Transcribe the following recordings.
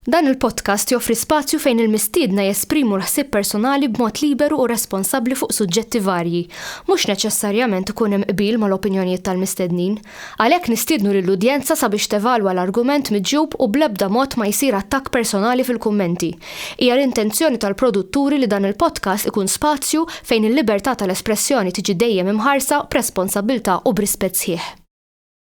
Dan il-podcast joffri spazju fejn il-mistiedna jesprimu l-ħsieb personali b'mod liberu u responsabbli fuq suġġetti varji. Mhux neċessarjament ikun hemm qbil mal-opinjonijiet tal-mistednin. Għalhekk nistiednu lill-udjenza sabiex tevalwa l-argument miġjub u bl-ebda mod ma jsir attakk personali fil-kummenti. Hija l-intenzjoni tal-produtturi li dan il-podcast ikun spazju fejn il-libertà tal-espressjoni tiġi dejjem imħarsa b'responsabbiltà u b'rispett sħiħ.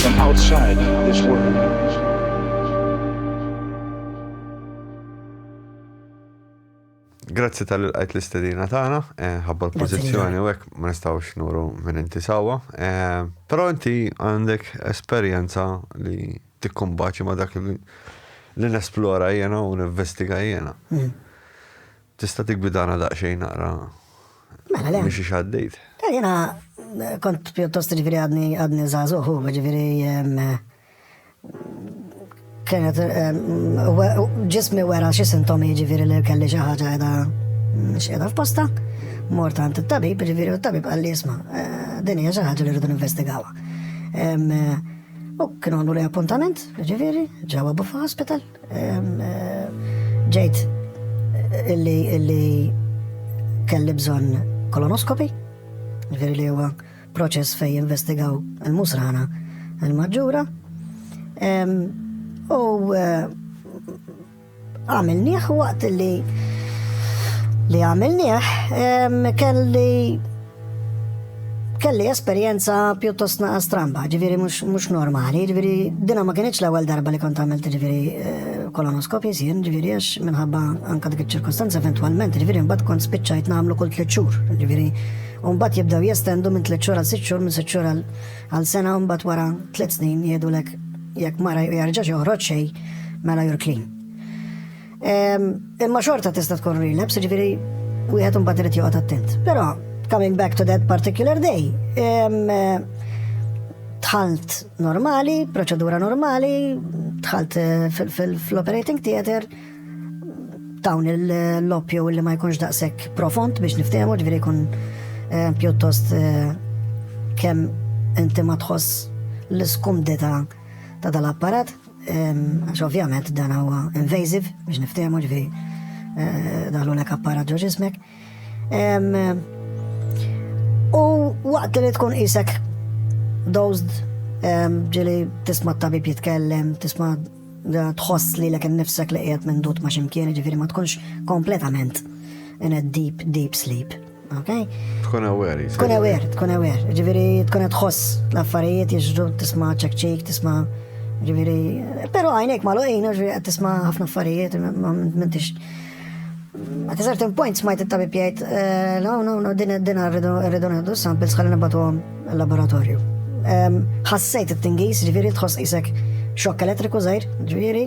from outside this world. Grazzi tal-qajt l-istedina tagħna, eh, ħabba l-pożizzjoni u hekk ma nistgħux nuru minn inti sawwa. Eh, però inti għandek esperjenza li tikkumbaċi ma dak li nesplora jiena u ninvestiga jiena. Mm. Tista' tiggwidana daqsxejn naqra? Mela le. Mhix għaddejt. Eh, jiena eh, kont pjuttost ġifieri għadni għadni żagħżugħ u ġifieri eh, kienet ġismi wera xi sintomi ġifieri li kelli xi ħaġa qiegħda mm, x'qiegħda f'posta. Mort għand it-tabib, ġifieri t-tabib qal li jisma' din hija xi ħaġa li rridu ninvestigawha. U kienu għandu li appuntament, ġifieri, ġewwa Buffa Hospital. Ġejt illi illi kelli bżonn kolonoskopi, ġifieri li huwa proċess fej investigaw il-musrana il-maġġura. U eh, għamilnieh waqt li li għamilnieh kelli kelli esperjenza pjuttost naqa stramba, ġifiri mux normali, ġifiri dina ma kienieċ l ewwel darba li kont għamilt ġifiri eh, kolonoskopi jisien, ġifiri għax minħabba anka dik ċirkostanza eventualment, ġifiri mbat kont spiċċajt namlu kull tliet xhur, ġifiri Umbat jibdaw jestendu minn tliet xhur għal sitt xhur, minn sitt xhur għal sena, umbat wara tliet snin jgħidulek jekk mara jarġax joħroġ xej mela jur clean. Imma xorta tista' tkun relapse, ġifieri wieħed imbagħad irid joqgħod attent. Però coming back to that particular day, tħalt normali, proċedura normali, tħalt eh, fil-operating theater, dawn l-loppju li ma jkunx daqshekk profond biex niftehmu, ġifieri jkun eh, pjuttost eh, kemm inti ma tħoss l-iskumdita ta' dal-apparat. Għax ovvjament dan huwa invasive biex niftehmu ġifieri eh, daħlu lek apparat ġo ġismek. U waqt li tkun isek dozd ġili tisma' tabib jitkellem, tisma' tħoss li l-ek nifsek li qiegħed minn dut ma' ximkien, ġifieri ma tkunx kompletament in a deep, deep sleep. Okay? Tkun aware, jisir. Tkun aware, tkun aware. Ġiviri, tkun għadħoss l-affarijiet jġru, tisma ċekċik, tisma ġiviri. Pero għajnek ma l-għin, ġiviri, għad tisma ħafna affarijiet, ma mentix. At a certain point smajt it-tabib jgħid, eh, no, no, no, din din rridu nħeddu samples ħalli nibatu għom laboratorju. Ħassejt it-tingis, ġiviri, tħoss isek xokk elettriku zaħir, ġiviri,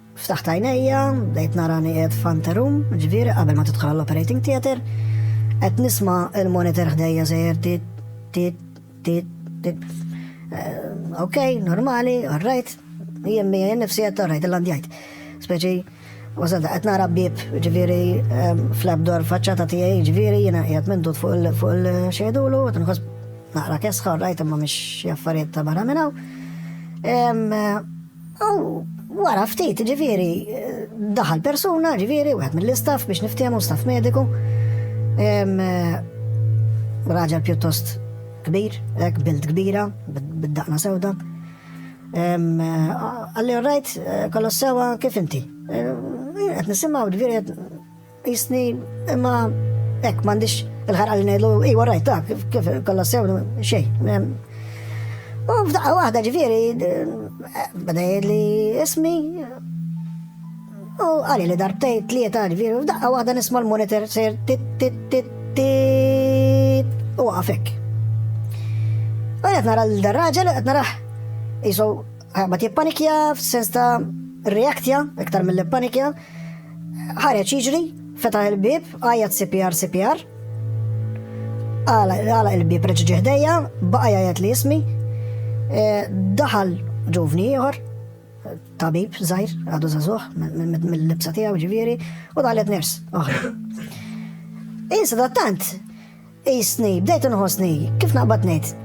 Ftaħt għajnejja, bdejt narani qiegħed f'anterum, ġifieri qabel ma tidħol l-operating theater, qed nisma' il-monitor ħdejja sejjer tit tit tit tit. Eh, ok, normali, alright, jien mi jien nifsi qed alright il-landjajt. Speċi Wasal qed nara bib, ġifieri eh, fl-abdor faċċata tiegħi, ġifieri jiena qiegħed mendut fuq il-xejdulu, qed nħoss naqra kesħa, rajt imma mhix jaffariet ta' barra minn hawn. Eh, U wara ftit, ġifieri, daħal persuna, ġifieri, wieħed mill-istaff biex niftiehmu staff mediku. Raġel pjuttost kbir, hekk bild kbira, bid-daqna sewda. Għalli rajt kollox sewa kif inti. Qed nisimgħu ġifieri Jisni, imma hekk m'għandix il-ħarqa li ngħidu, iwa rajt dak, kif kollha sew xejn. U f'daqqa waħda ġifieri bada jgħidli ismi u għalli li darbtej tlieta ġifieri f'daqqa waħda nisma' l-monitor ser tit tit tit tit u għafek. U qed nara l-raġel qed naraħ jisu ma tippanikja f'sens ta' reaktja iktar mill-panikja Ħareġ jiġri, fetaħ il-bieb, għajjat CPR CPR. Għala il-bieb reġa' ġie ħdejja, baqa' jgħajjat li ismi. E, daħal ġuvni ieħor, tabib żgħir, għadu żagħżugħ mill-libsa tiegħu ġifieri, u daħlet ners. Insa da tant, Qisni, bdejt inħossni, kif naqbad ngħid.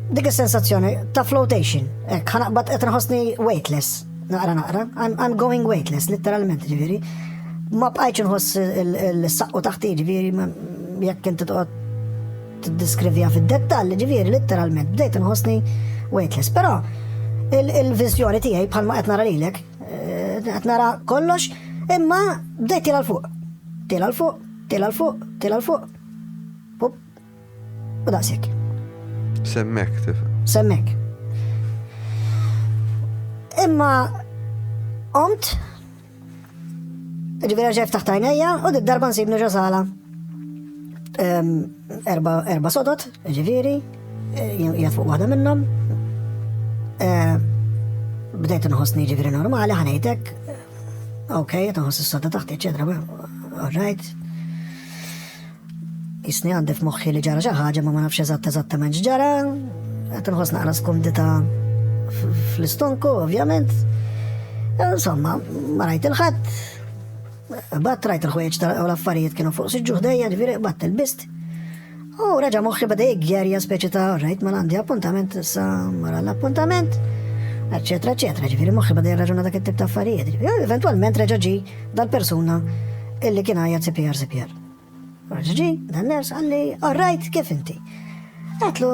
Dik is-sensazzjoni ta' flotation, hekk ħanaqbad qed nħossni weightless, naqra naqra, I'm, I'm going weightless, literalment ġifieri. Ma bqajtx inħoss il-saqqu taħti ġifieri jekk inti toqgħod tiddeskrivija fid-dettall, ġifieri literalment bdejt inħossni weightless. Però il-viżjoni tiegħi bħalma qed nara lilek, eh, qed nara kollox, imma bdejt tira l-fuq. Tela l-fuq, tela l-fuq, tela l-fuq. Up. U daqshekk. Semmek tifhem. Semmek. Imma omt ġifieri ġef taħt għajnejja u d darba nsibnu ġo sala. Erba sodot, ġifieri, eh, jgħat fuq waħda minnhom. Eh, bdejt nħossni ġifieri normali ħanejtek Ok, qed nħoss is-soda taħt eċetera, all right. Jisni għandi f'moħħi li ġara xi ħaġa ma ma nafx eżatt eżattament x'ġara, qed nħoss naqra skumdita fl-istonku, ovvjament. Insomma, ma rajt il-ħadd. Bat rajt il-ħwejġ tal-affarijiet kienu fuq siġġu ħdejja, ġifieri bat il-bist. U reġa' moħħi bada jiggerja speċi ta' rajt ma għandi appuntament sa mara l-appuntament, eċetera, eċetera. Ġifieri moħħi bada jirraġuna dak it-tip ta' affarijiet. Eventwalment reġa' ġi dal-persuna illi kien għajja CPR CPR. Reġa' ġi dan ners għalli, all right, kif inti? Għatlu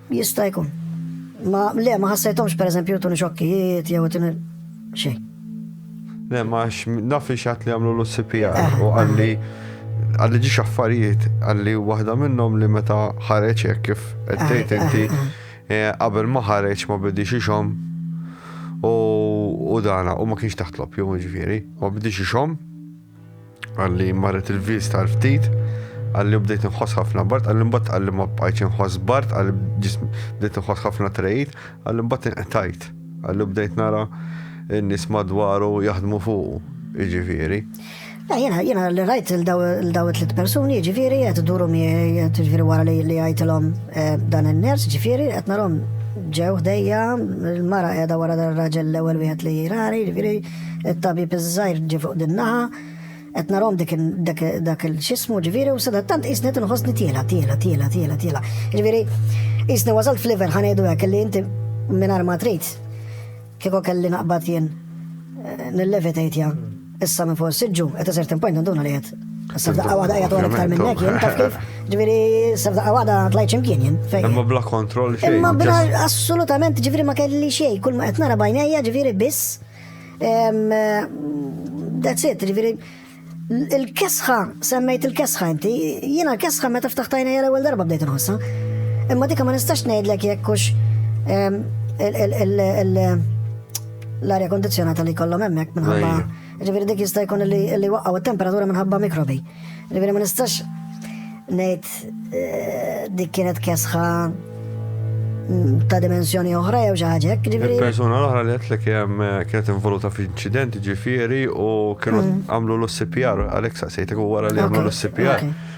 Jista' jkun. Ma le ma ħassejthomx pereżempju jtuni xokkijiet jew jtuni xejn. Le ma naf li xatt li għamlu l-CPR eh, u għalli eh. għalli ġiex affarijiet għalli waħda minnhom li meta ħareġ hekk kif qed tgħid eh, inti qabel ma ħareġ ma bidix ixhom u dana u ma kienx taħtlob jew ġifieri ma bidix ixhom Għalli marret il-vies tal-ftit, għalli bdejt nħoss ħafna bart, għalli mbatt għalli ma bqajtx nħoss bart, għalli bdejt nħoss ħafna trejt, għalli mbatt inqtajt, għalli bdejt nara n-nis madwaru jaħdmu fuq, iġifiri. Jena, jena li rajt l-daw tlit personi, ġifiri, għet duru mi, għet ġifiri wara li li għajtilom eh, dan il-ners, ġifiri, għet narom ġew ħdejja, il-mara għeda wara dan raġel l-ewel wieħed li jirari, ġifiri, it-tabib iż-żgħir ġie fuq din naħa, qed narhom dak il-xismu ġifieri u sadattant qisni tinħossni tiela, tiela, tiela, tiela, tiela. Ġifieri, qisni wasalt f'liver ħanejdu hekk li inti mingħajr ma trid kieku kelli naqbad jien eh, nillevitate ja issa minn fuq is-siġġu qed iżert point nduna li qed Sabdaqqa wada għajja dwar iktar minnek, jien taf kif, ġviri, sabdaqqa wada tlajt ximkien jien. Imma bla kontroll xejn. Imma bla assolutament ġviri ma kelli xejn, kull ma qed nara bajnejja ġviri biss. That's it, ġviri. Il-kesħa, semmejt il-kesħa inti, jiena l-kesħa meta ftaħtajna jara l-ewwel darba bdejt nħossa. Imma dika ma nistax ngħidlek jekk hux l-arja kondizjonata li kollhom hemmhekk minħabba Ġifieri dik jista' jkun li li waqgħu t-temperatura minħabba mikrobi. Ġifieri ma nistax ngħid eh, dik kienet kesħa mm, ta' dimensjoni oħra jew xi ħaġa hekk. Ġifieri Il-persuna l-oħra li għetlek jem eh, kienet involuta f'inċident ġifiri u kienu Mm. għamlu l-CPR, għalek saqsejtek u wara li għamlu Ok, l-CPR. ok.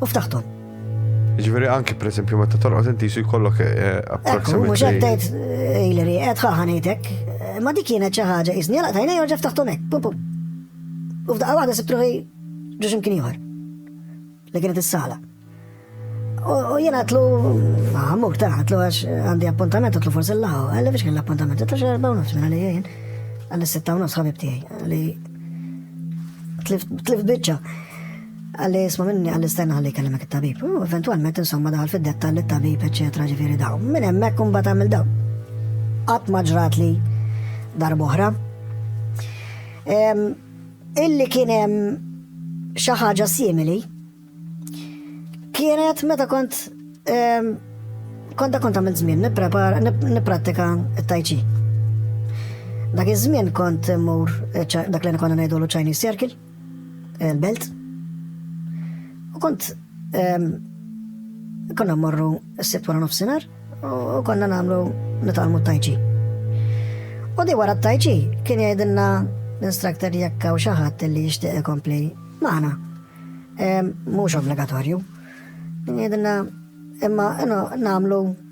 u ftaħthom. Ġveri anki per esempio meta torqod inti su jkollok eh, eh, approximately. Mux għaddejt eh, Hillary, għed ħaħanejtek, ma dik kienet xi ħaġa iżni għalaq tajna jorġa ftaħtom hekk, pum pum. U f'daqqa waħda sibt ruħi ġuġ imkien ieħor. Li kienet is-sala. U jien għatlu, għamuk ta' għatlu għax għandi appuntament għatlu forse l-law, għalli biex kien l-appuntament, għatlu xarba u nofs minna li jien, għalli s-sitta u nofs ħabib tijaj, għalli tlift bieċa. Qal li isma' minni qal li stenna ħalli jkellimek it-tabib. U eventwalment insomma daħal fid-dettall it-tabib eċċetera ġifieri daw. Minn hemmhekk imbagħad għamil daw. Qatt ma ġrat li darb'oħra. Illi kien hemm xi ħaġa simili kienet meta kont konta kont għamil żmien nipprepara nipprattika t-tajċi. Dak iż-żmien kont mur dak li konna ngħidulu Chinese Circle. belt. U kont konna morru s-sibt wara nofsinar u konna namlu nitalmu tajċi. U di wara tajċi kien jgħidilna l-instructor jekk hawn xi ħadd li jixtieq ikompli magħna. Mhux obbligatorju. Jgħidilna imma namlu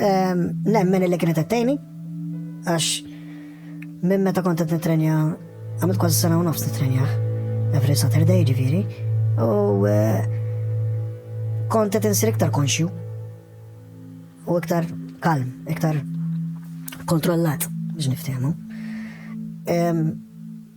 Ehm, nemmen li kienet għattejni, għax minn meta kont qed nitrenja, għamilt kważi sena u nofs nitrenja, every Saturday ġifieri, u eh, kont qed insir iktar konxju u iktar kalm, iktar kontrollat biex niftehmu. Ehm,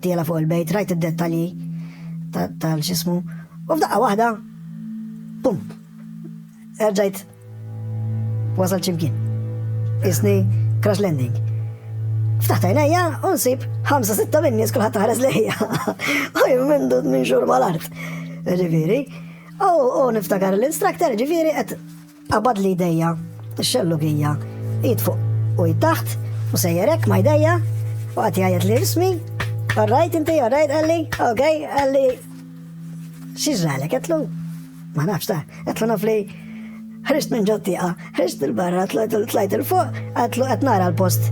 Tiela fuq il-bejt, rajt id-dettalji tal-xismu, u f'daqqa waħda, pum, erġajt wasal ċimkien. Isni crash landing. Ftaħt għajnejja u nsib 5-6 minn nies kulħadd taħres lejja. U jimmindu minn xurba l-art. Ġifieri. U niftakar l-instructor ġifieri qed Qabad li jdejja, ix-xellugija, id fuq u id taħt, u sejjerek ma jdejja, u għati għajet li ismi, għarrajt inti, għarrajt għalli, ok, għalli, xizralek, għetlu, ma nafx ta, għetlu naf li ħrist minn ġottiqa, ħrist il-barra, tlajt il-fuq, għetlu għetnara l-post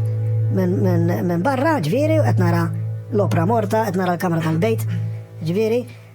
minn barra, ġviri, għetnara l-opra morta, għetnara l-kamra tal-bejt, ġviri,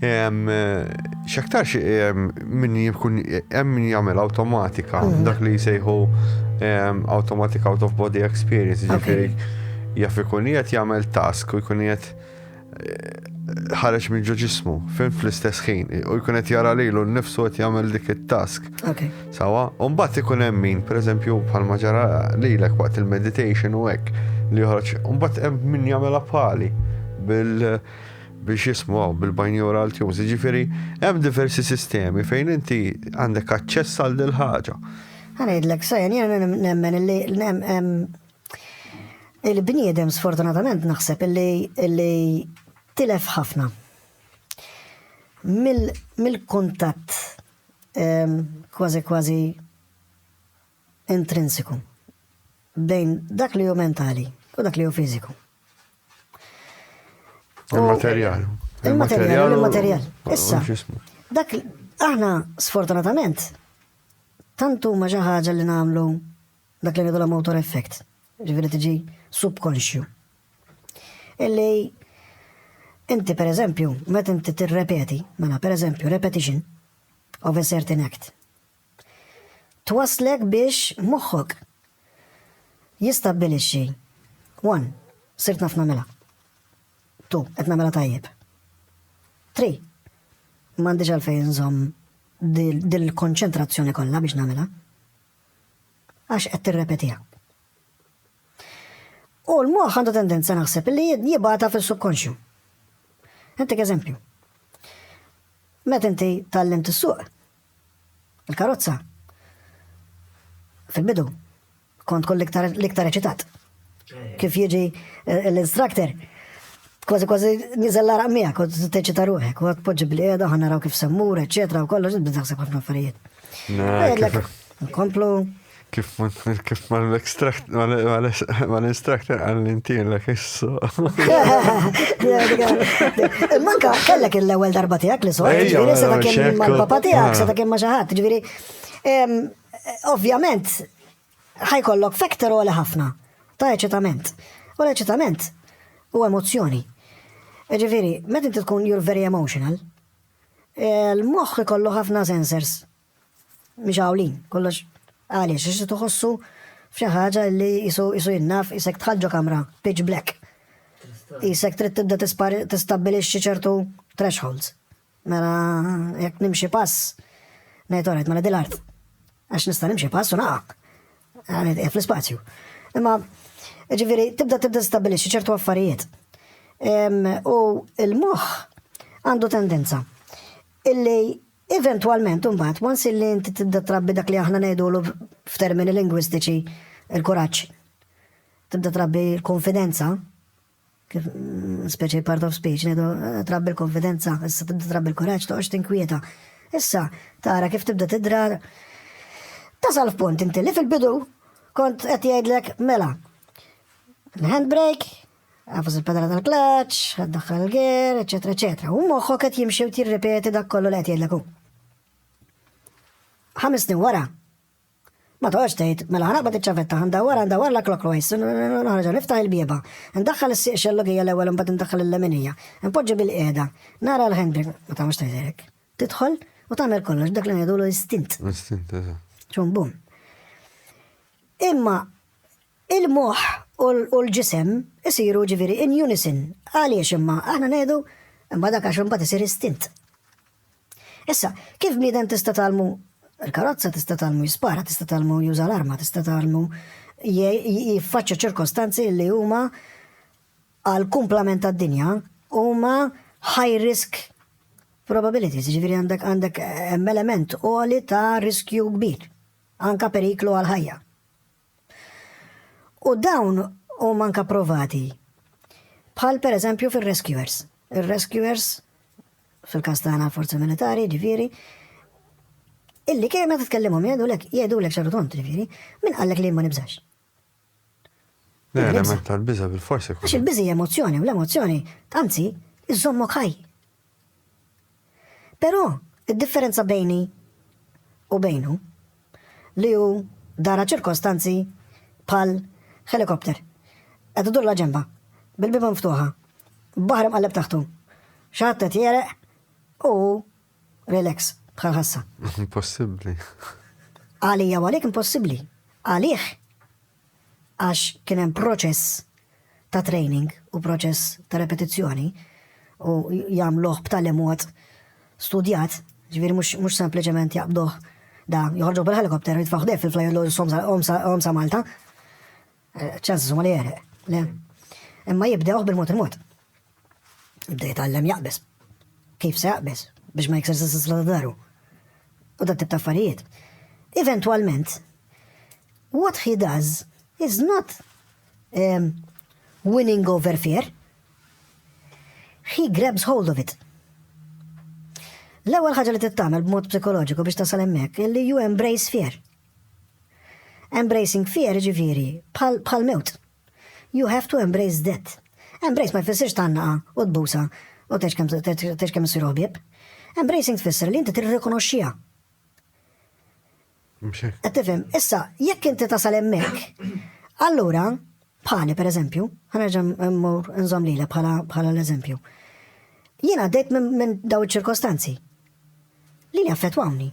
X'aktarx min jkun hemm min jagħmel awtomatika, mm. dak li jsejħu automatic out of body experience, ġifieri jaf ikun qiegħed jagħmel task u jkun qiegħed eh, ħareġ minn ġo ġismu, fin fl-istess ħin, u jkun qed jara lilu nnifsu qed jagħmel dik it-task. Sawa, u mbagħad ikun hemm min, pereżempju bħalma ġara lilek waqt il-meditation u hekk li joħroġ, u mbagħad hemm min jagħmel bħali bil biex jismgħu bil-binaural tunes, jiġifieri hemm diversi sistemi fejn inti għandek aċċess għal dil ħaġa. Għanajdlek, sajan, jena nemmen illi il-bniedem sfortunatament naħseb illi tilef ħafna mill-kuntatt kważi kważi intrinsiku bejn dak li hu mentali u dak li hu fiżiku. Il-materjal. Il-materjal, il-materjal. Issa, dak aħna sfortunatament tantu ma xi ħaġa li nagħmlu dak li ngħidu motor effect, ġifieri tiġi subconscious. Illi inti per eżempju, meta inti tirrepeti, mela per eżempju repetition of a certain act. twasslek biex moħħok jistabbilixxi, one, sirt naf nagħmilha, two, qed nagħmilha tajjeb, three, m'għandix għalfejn inżomm din il-konċentrazzjoni kollha biex nagħmilha għax qed tirrepetiha. U l-moħ għandu tendenza naħseb li jibata fil-subkonxju. Intek eżempju. Met inti tal-lim t-suq, Il-karozza. Fil-bidu, kont kull l-iktar eċitat. Kif jiġi eh, l-instructor, kważi kważi nizel l-araq miegħek, kont teċita ruħek, u għatpoġġi bl-qiegħda, ħan naraw kif semmur, eċetera, u kollox, bizzaqsek ħafna affarijiet. Nkomplu, Kif kif ma l-extract ma l-instructor għall-intilek issu. Manka kellek l-ewwel darba tiegħek li sor, ġifieri seta' kien mal-papa tiegħek, seta' kien ma' xi ħadd, ġifieri ovvjament ħajkollok factor għoli ħafna ta' eċitament. U l-eċitament u emozzjoni. Ġifieri, meta inti tkun you're very emotional, l-moħħ ikollu ħafna sensors mixgħulin, kollox għaliex? Għax tħossu f'xi ħaġa li qisu qisu jinnaf isek tħall ġo kamra pitch black. Isek trid tibda tistabbilixxi ċertu thresholds. Mela jekk nimxi pass, ngħid orajt mela dil-art. Għax nista' nimxi pass u naqa. Għanet eh, fl-ispazju. Imma ġifieri tibda tibda tistabbilixxi ċertu affarijiet. U l-moħħ għandu tendenza illi Eventwalment imbagħad, once illi inti tibda trabbi dak li aħna ngħidulu f'termini lingwistiċi l-kuraġġ, tibda trabbi l-konfidenza, kif speċi part of speech, ngħidu eh, trabbi l-konfidenza, issa tibda trabbi l-kuraġġ, toqgħodx tinkwieta. Issa tara kif tibda tidrar tasal f'punt inti li fil-bidu kont qed jgħidlek mela l-handbrake Għafus il-pedala tal-klaċ, għaddaħħal il-ger, eccetera, eccetera. U moħħok qed jimxi u tirripeti dak kollu li qed jgħidlek hu. Ħames snin wara, Ma toħx tgħid, mela ħana ma tiċċavetta, ndawwar ndawwar la clockwise, nħarġa niftaħ il-bieba, ndaħħal is-sieq xellogija l-ewwel imbagħad ndaħħal il-leminija, npoġġi bil-qiegħda, nara l-handbrake, ma tagħmilx tgħidlek. Tidħol u tagħmel kollox dak li ngħidulu istint. Istint, Xum bum. Imma Il-moħħ u l-ġisem isiru jiġifieri in unison. Għaliex imma? Aħna ngħidu, imma dak għax imbagħad isir istint. Issa, kif bniedem tista' tgħallmu l-karozza, tista' tgħallmu jispara, tista' tgħallmu juża l-arma, tista' tgħallmu jiffaċċja ċirkostanzi li huma għal kumplament tad-dinja huma high risk probabilities, ġifiri għandek għandek eh, element għoli ta' riskju kbir, anka periklu għal ħajja. U dawn huma anke approvati. Bħal pereżempju fir-rescuers. Ir-rescuers fil-każ tagħna forzi militari, ġifieri, illi kemm meta tkellimhom jgħidulek jgħidulek xaru tont, ġifieri, min qallek li ma nibżax. L-element tal-biża bil-forsi. Għax il-biżi emozzjoni, u l-emozzjoni, anzi, iżommok ħaj. Però, id-differenza bejni u bejnu, li hu dara ċirkostanzi bħal ħelikopter, qed idur la ġenba, bil-bieba mftuħa, baħar imqalleb taħtu, xi ħadd qed jegħreq u hu relax bħal ħassa. Impossibbli. Għalija u għalik impossibbli. Għalih għax kien hemm proċess ta' training u proċess ta' repetizzjoni u jagħmluh b'tali mod studjat, ġifieri mhux sempliċement jaqbduh da joħorġu bil-helikopter jitfaw ħdef fil-flajellu jom sa Malta. Eh, ċans huma li jeħreq. Le. Imma jibdewh bil-mod il-mod. Bda jitgħallem jaqbeż. Kif se jaqbeż? Biex ma jiksirx is-sisla ta' daru. U dat tip ta' affarijiet. Eventwalment, what he does is not um, winning over fear. He grabs hold of it. L-ewwel ħaġa li tittamel b'mod psikoloġiku biex tasal hemmhekk li you embrace fear. Embracing fear ġifieri bħal mewt. You have to embrace that. Embrace ma jfissirx tgħannaqha u tbusha u tgħix kemm tgħix kemm issiru ħbieb. Embracing tfisser li inti tirrikonoxxiha. Mhux hekk. Qed tifhem, issa jekk inti tasal hemmhekk, allura bħali pereżempju, ħanerġa' mmur nżomm lilha bħala bħala l-eżempju. Jien għaddejt minn min daw iċ-ċirkostanzi li li affettwawni.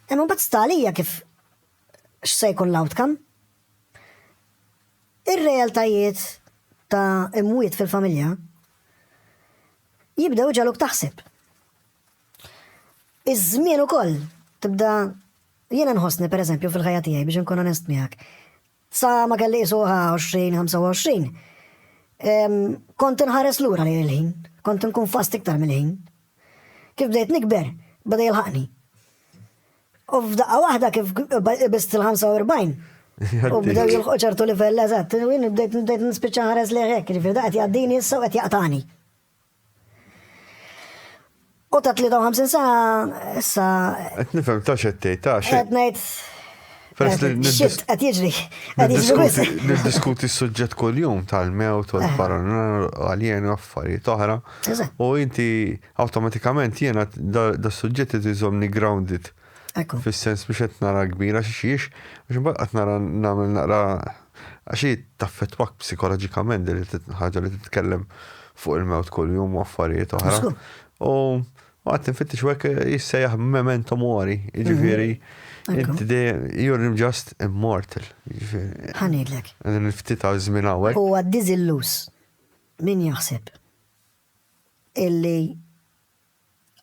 Imma mbagħad sta għalija kif x'se jkun l-outcome Ir-realtajiet ta' imwiet fil-familja jibdew ġaluk taħseb. Iż-żmien ukoll tibda jiena nħossni pereżempju fil-ħajja tiegħi biex inkun onest miegħek. Sa ma kelli isuha 20-25 kont inħares lura lejn il-ħin, kont inkun fast iktar mill-ħin. Kif bdejt nikber, bada jilħaqni. U f'daqqa waħda kif ibist il-45 u bdew jilħu ċertu livell eżatt, u jien bdejt bdejt nispiċċa ħares li hekk, jiġifieri da qed jgħaddini issa u qed jaqtani. U ta' 53 sa issa. Qed nifhem ta' xed tgħid ta' xed. Qed ngħid. Xit qed jiġri. Niddiskuti s-suġġett kuljum tal-mewt u l-paranoja u għaljen u affarijiet oħra. U inti Awtomatikament jiena das-suġġett irid iżommni grounded. Ekku. Fis-sens biex qed nara kbira xi xiex, għax imbagħad qed nara nagħmel naqra għax hi taffettwak psikoloġikament din il-ħaġa li titkellem fuq il-mewt kuljum u affarijiet oħra. U għad nfittex u hekk jissejjaħ memento mori, jiġifieri mhm. inti dejjem you're just immortal. Jiġifieri. Ħanidlek. Għadin ftit għaż żmien hawnhekk. Huwa diżillus. Min jaħseb? illi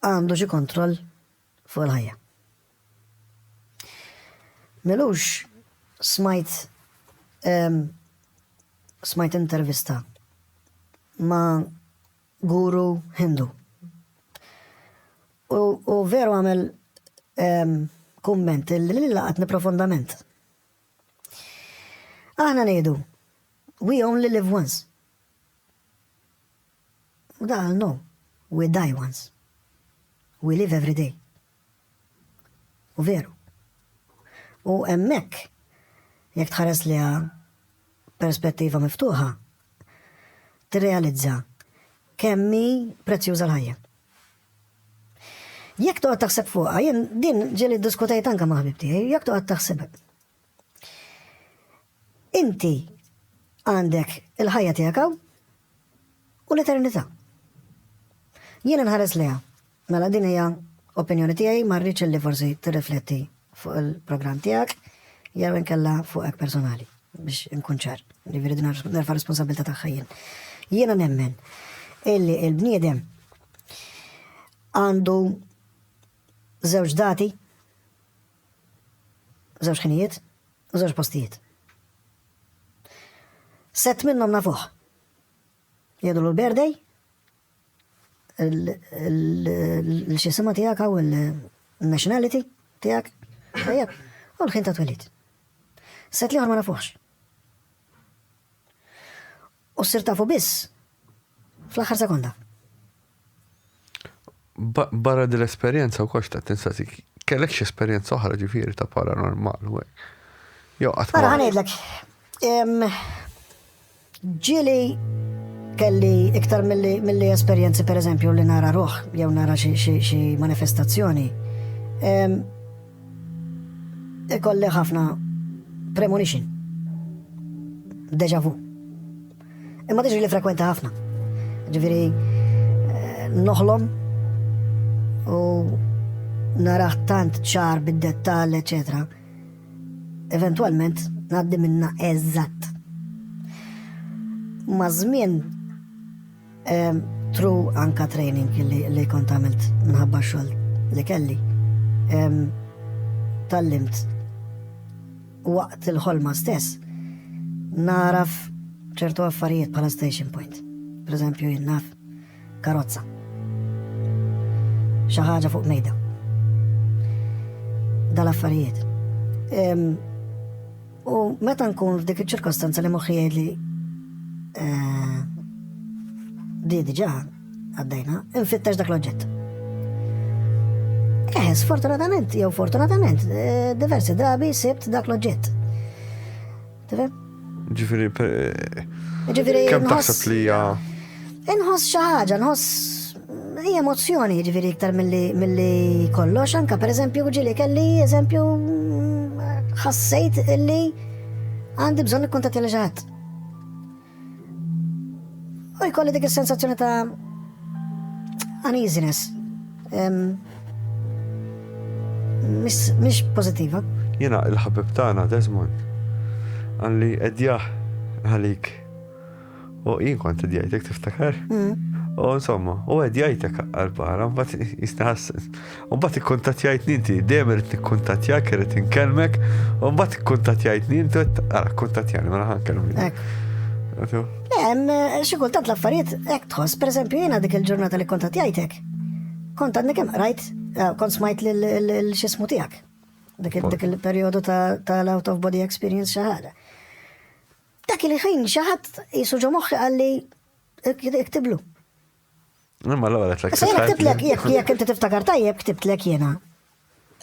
għandu xi kontroll fuq il-ħajja. Milux smajt um, smajt intervista ma' guru Hindu. U, u veru għamel um, kumment li li laqatni profondament. Aħna nejdu, we only live once. U da qal no, we die once, we live every day. U veru. U hemmhekk jekk tħares liha perspettiva miftuħa, tirrealizza kemm hi prezzjuża l-ħajja. Jekk toqgħod taħseb fuqha, jien din ġieli ddiskutejt anke ma' ħbib tiegħi, jekk toqgħod taħseb Inti għandek il-ħajja tiegħek hawn u l-eternità. Jiena nħares lejha. Mela din hija opinjoni tiegħi ma rridx li forsi tirrifletti fuq il-programm tiegħek jew inkella fuqek personali biex inkun ċar, li viridu nerfa responsabilta tagħha jien. Jiena nemmen illi il-bniedem għandu żewġ dati Żewġ ħinijiet u żewġ postijiet. Sett minnhom nafuh. Jgħidulu l-birthday, l-xisima tiegħek hawn il-nationality tiegħek, tajjeb, u l-ħin ta' twelid. Sett liħor ma nafuħx. U ssir tafu biss fl-aħħar sekonda. Barra din l-esperjenza wkoll x'ta' tinsasi kellek x'esperjenza oħra ġifieri ta' paranormal u hekk. Jew qatt. Ara ħanejdlek. Ġieli kelli iktar mill-li esperienzi per eżempju li nara ruħ jew nara xi manifestazzjoni. Ikolli ħafna premonition. Deja vu. Imma diġri li frekwenti ħafna. Ġifiri, eh, noħlom u naraħ tant ċar bid-dettal, etc. Eventualment naddi minna eżatt. Ma' żmien Tru anka training li kont għamilt minħabba xogħol li kelli. Tallimt waqt il-ħolma stess naraf ċertu affarijiet bħala station point. Per eżempju, jinnaf karozza. Xaħġa fuq mejda. Dal-affarijiet. U meta nkun f'dik iċ-ċirkostanza li moħħi jgħidli eh, di diġà għaddejna, infittex dak l-oġġett. Eh, sfortunatament, jew fortunatament, eh, diversi drabi sibt dak l-oġġett. Tifhem? Ġifieri Ġifieri. Kemm taħseb li hija. Inħoss xi ħaġa, nħoss Hi emozzjoni, ġifieri iktar milli kollox, anka pereżempju ġieli kelli eżempju ħassejt illi għandi bżonn ikkuntattja li ġaħat. U jkolli dik is-sensazzjoni ta' uneasiness. Mhix pożittiva. Jiena l-ħabib tagħna Desmond għalli edjaħ għalik U jien kont qed jgħidlek tiftakar? U insomma, u qed jgħidlek għall-barra, mbagħad jistħassen. U mbagħad ikkuntattjajt ninti, dejjem irid nikkuntattjak, irid inkellmek, u mbagħad ikkuntattjajt ninti, ara kkuntattjani mela ħankellmek. Hemm eh, xi kultant l-affarijiet hekk tħoss, pereżempju jiena dik il-ġurnata li kontattjajtek. Kont għandek hemm rajt, eh, kont smajt lil xismu tiegħek. Dik il-perjodu ta' l-out of body experience xi ħaġa. Dak il-ħin xi ħadd qisu ġo moħħi qalli iktiblu. Imma l-ewwel qed lek. Sejna ktibtlek jekk inti tiftakar tajjeb ktibtlek jiena.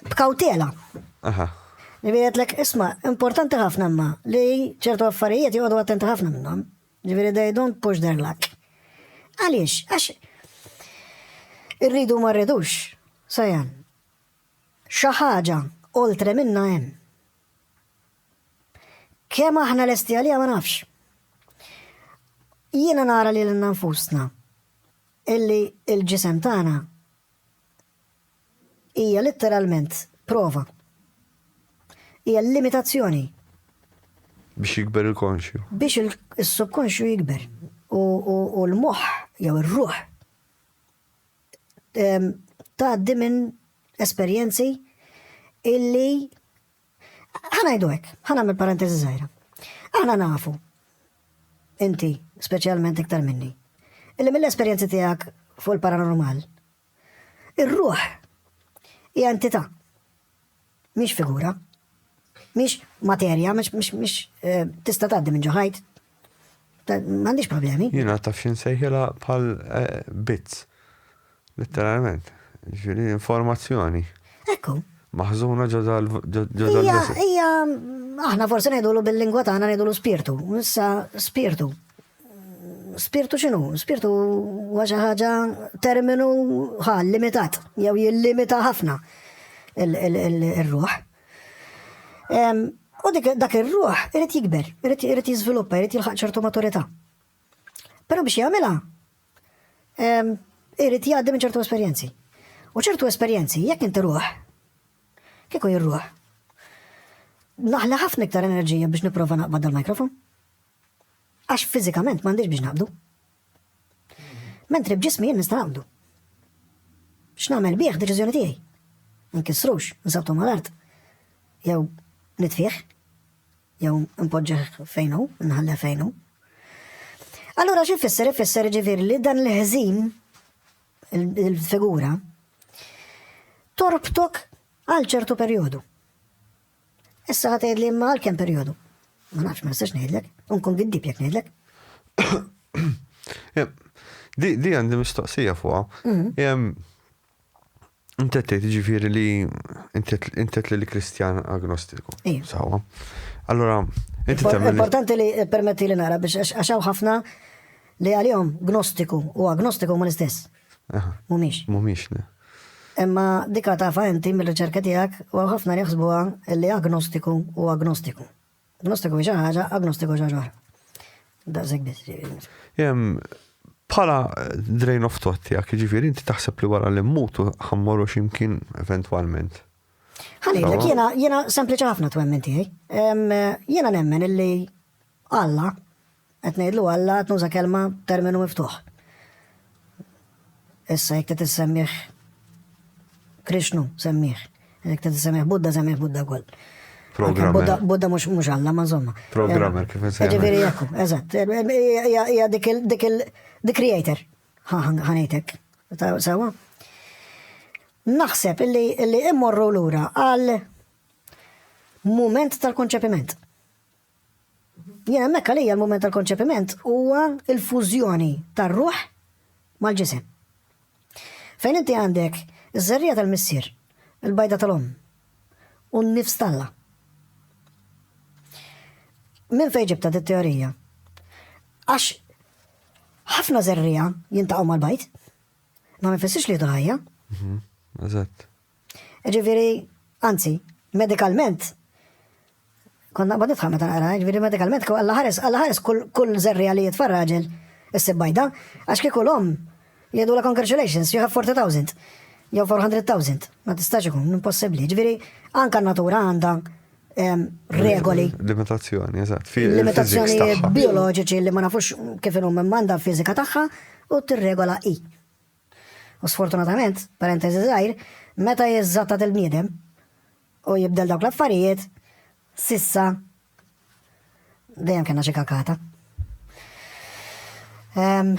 B'kawtela. Aha. Ġifieri għedlek isma' importanti ħafna imma li ċertu affarijiet joqogħdu attenti ħafna minnhom. Ġifieri they don't push their luck. Għaliex, għax irridu ma rridux, sajan. Xi ħaġa oltre minna hemm. Kemm aħna lesti għaliha ma nafx. Jiena nara lilna nfusna illi l-ġisem tagħna hija litteralment prova. Hija limitazzjoni. Biex jikber il-konxju. Biex il-subkonxju jikber. U l-moħħ jew ir-ruħ tgħaddi minn esperjenzi illi Ħa ngħidu hekk, ħa nagħmel parenteżi żgħira. Aħna nafu, inti speċjalment iktar minni, illi mill-esperjenzi tiegħek fuq il-paranormal, ir-ruħ hija entità, mhix figura, mhix materja, mhix eh, tista' tgħaddi minn ġoħajt, M'għandix problemi. Jiena taf xi nsejħilha bħal eh, bits. Letteralment. Ġifieri informazzjoni. Ekku. Maħżuna ġodda l-vessel. Ija, aħna forsi ngħidulu bil-lingwa tagħna ngħidulu spirtu. Issa spirtu. Spirtu x'inhu? Spirtu huwa xi ħaġa terminu ħal limitat jew jillimita ħafna il-ruħ. U dak ir-ruħ irid jikber, irid jiżviluppa, irid jilħaq ċertu maturità. Però biex jagħmilha, irid jgħaddi minn ċertu esperjenzi. U ċertu esperjenzi, jekk inti ruħ, kieku jirruħ, naħli ħafna iktar enerġija biex nipprova naqbad dal-mikrofon. Għax fiżikament m'għandix biex naqbdu. Mentri b'ġismi jien nista' naqbdu. X'nagħmel bih deċiżjoni tiegħi. Nkissrux, nsabtu mal-art. Jew nitfih. Jew npoġġeħ fejnu, nħalleh fejnu. Allura xi fisser ifisser ġifieri li dan l-ħżin il-figura torbtok għal ċertu perjodu. Issa ħa tgħidli imma għal kemm perjodu? Ma nafx ma nistax ngħidlek, u nkun giddib jekk ngħidlek. Di għandi mistoqsija fuqha. Mhm. Intet tgħid ġifieri li intet li l-Kristjan agnostiku. Sawa. Allora, inti tagħmel. Importanti li permetti li nara biex għax hawn ħafna li għalihom gnostiku u agnostiku ma l-istess. Mhumiex. Mhumiex, le. Imma dika tafha inti mir-riċerki tiegħek u hawn ħafna li jaħsbuha li agnostiku hu agnostiku. Agnostiku hi xi ħaġa, agnostiku xi ħaġa oħra. Daqshekk biss ġifieri. Bħala drain of thought tiegħek, ġifieri inti taħseb li wara li mmutu ħammorru x'imkien eventwalment. Ħalejlek jiena jiena sempliċi ħafna twemmin tiegħi. Jiena nemmen illi Alla, qed ngħidlu Alla qed nuża kelma terminu miftuħ. Issa jekk trid issemmih Krishnu semmih, jekk trid issemmih Buddha semmih Buddha wkoll. Programmer. Buddha mhux mhux Alla ma żomma. Programmer kif insejħ. Ġifieri jekk, eżatt. Hija dik il dik il the creator. Ħanejtek. Sewa? Naħseb illi illi immorru lura għal mument tal-konċepiment. Jien hemmhekk għalija l-mument tal-konċepiment huwa l-fużjoni tar-ruħ mal-ġisem. Fejn inti għandek iż-żerriegħa tal-Missier, il-bajda tal-Omm, u n-nifs t'Alla. Minn fejn ġibtha dit-teorija? Għax ħafna żerriegħa jiltaqgħu mal-bajd, ma ma jfissirx li jieħdu l-ħajja. Mhm, eżatt. Ġifieri, anzi, medikalment, kont naqbad nidħaq meta naqra, ġifieri medikalment kieku Alla ħares, Alla ħares kull żerriegħa li jitfa' raġel issib bajda, għax kieku l-omm jgħidulha congratulations, you have 40,000 jew 400,000, ma tistax ikun, impossibbli. Ġifieri, anka natura għandha regoli. Limitazzjoni, eżatt. Limitazzjoni bioloġiċi li ma nafux kif inhom manda fizika tagħha u tirregola i. U sfortunatament, parentesi żgħir, meta jiżżattat il-bniedem u jibdel dawk l-affarijiet, sissa dejjem kellna xi kakata. Um,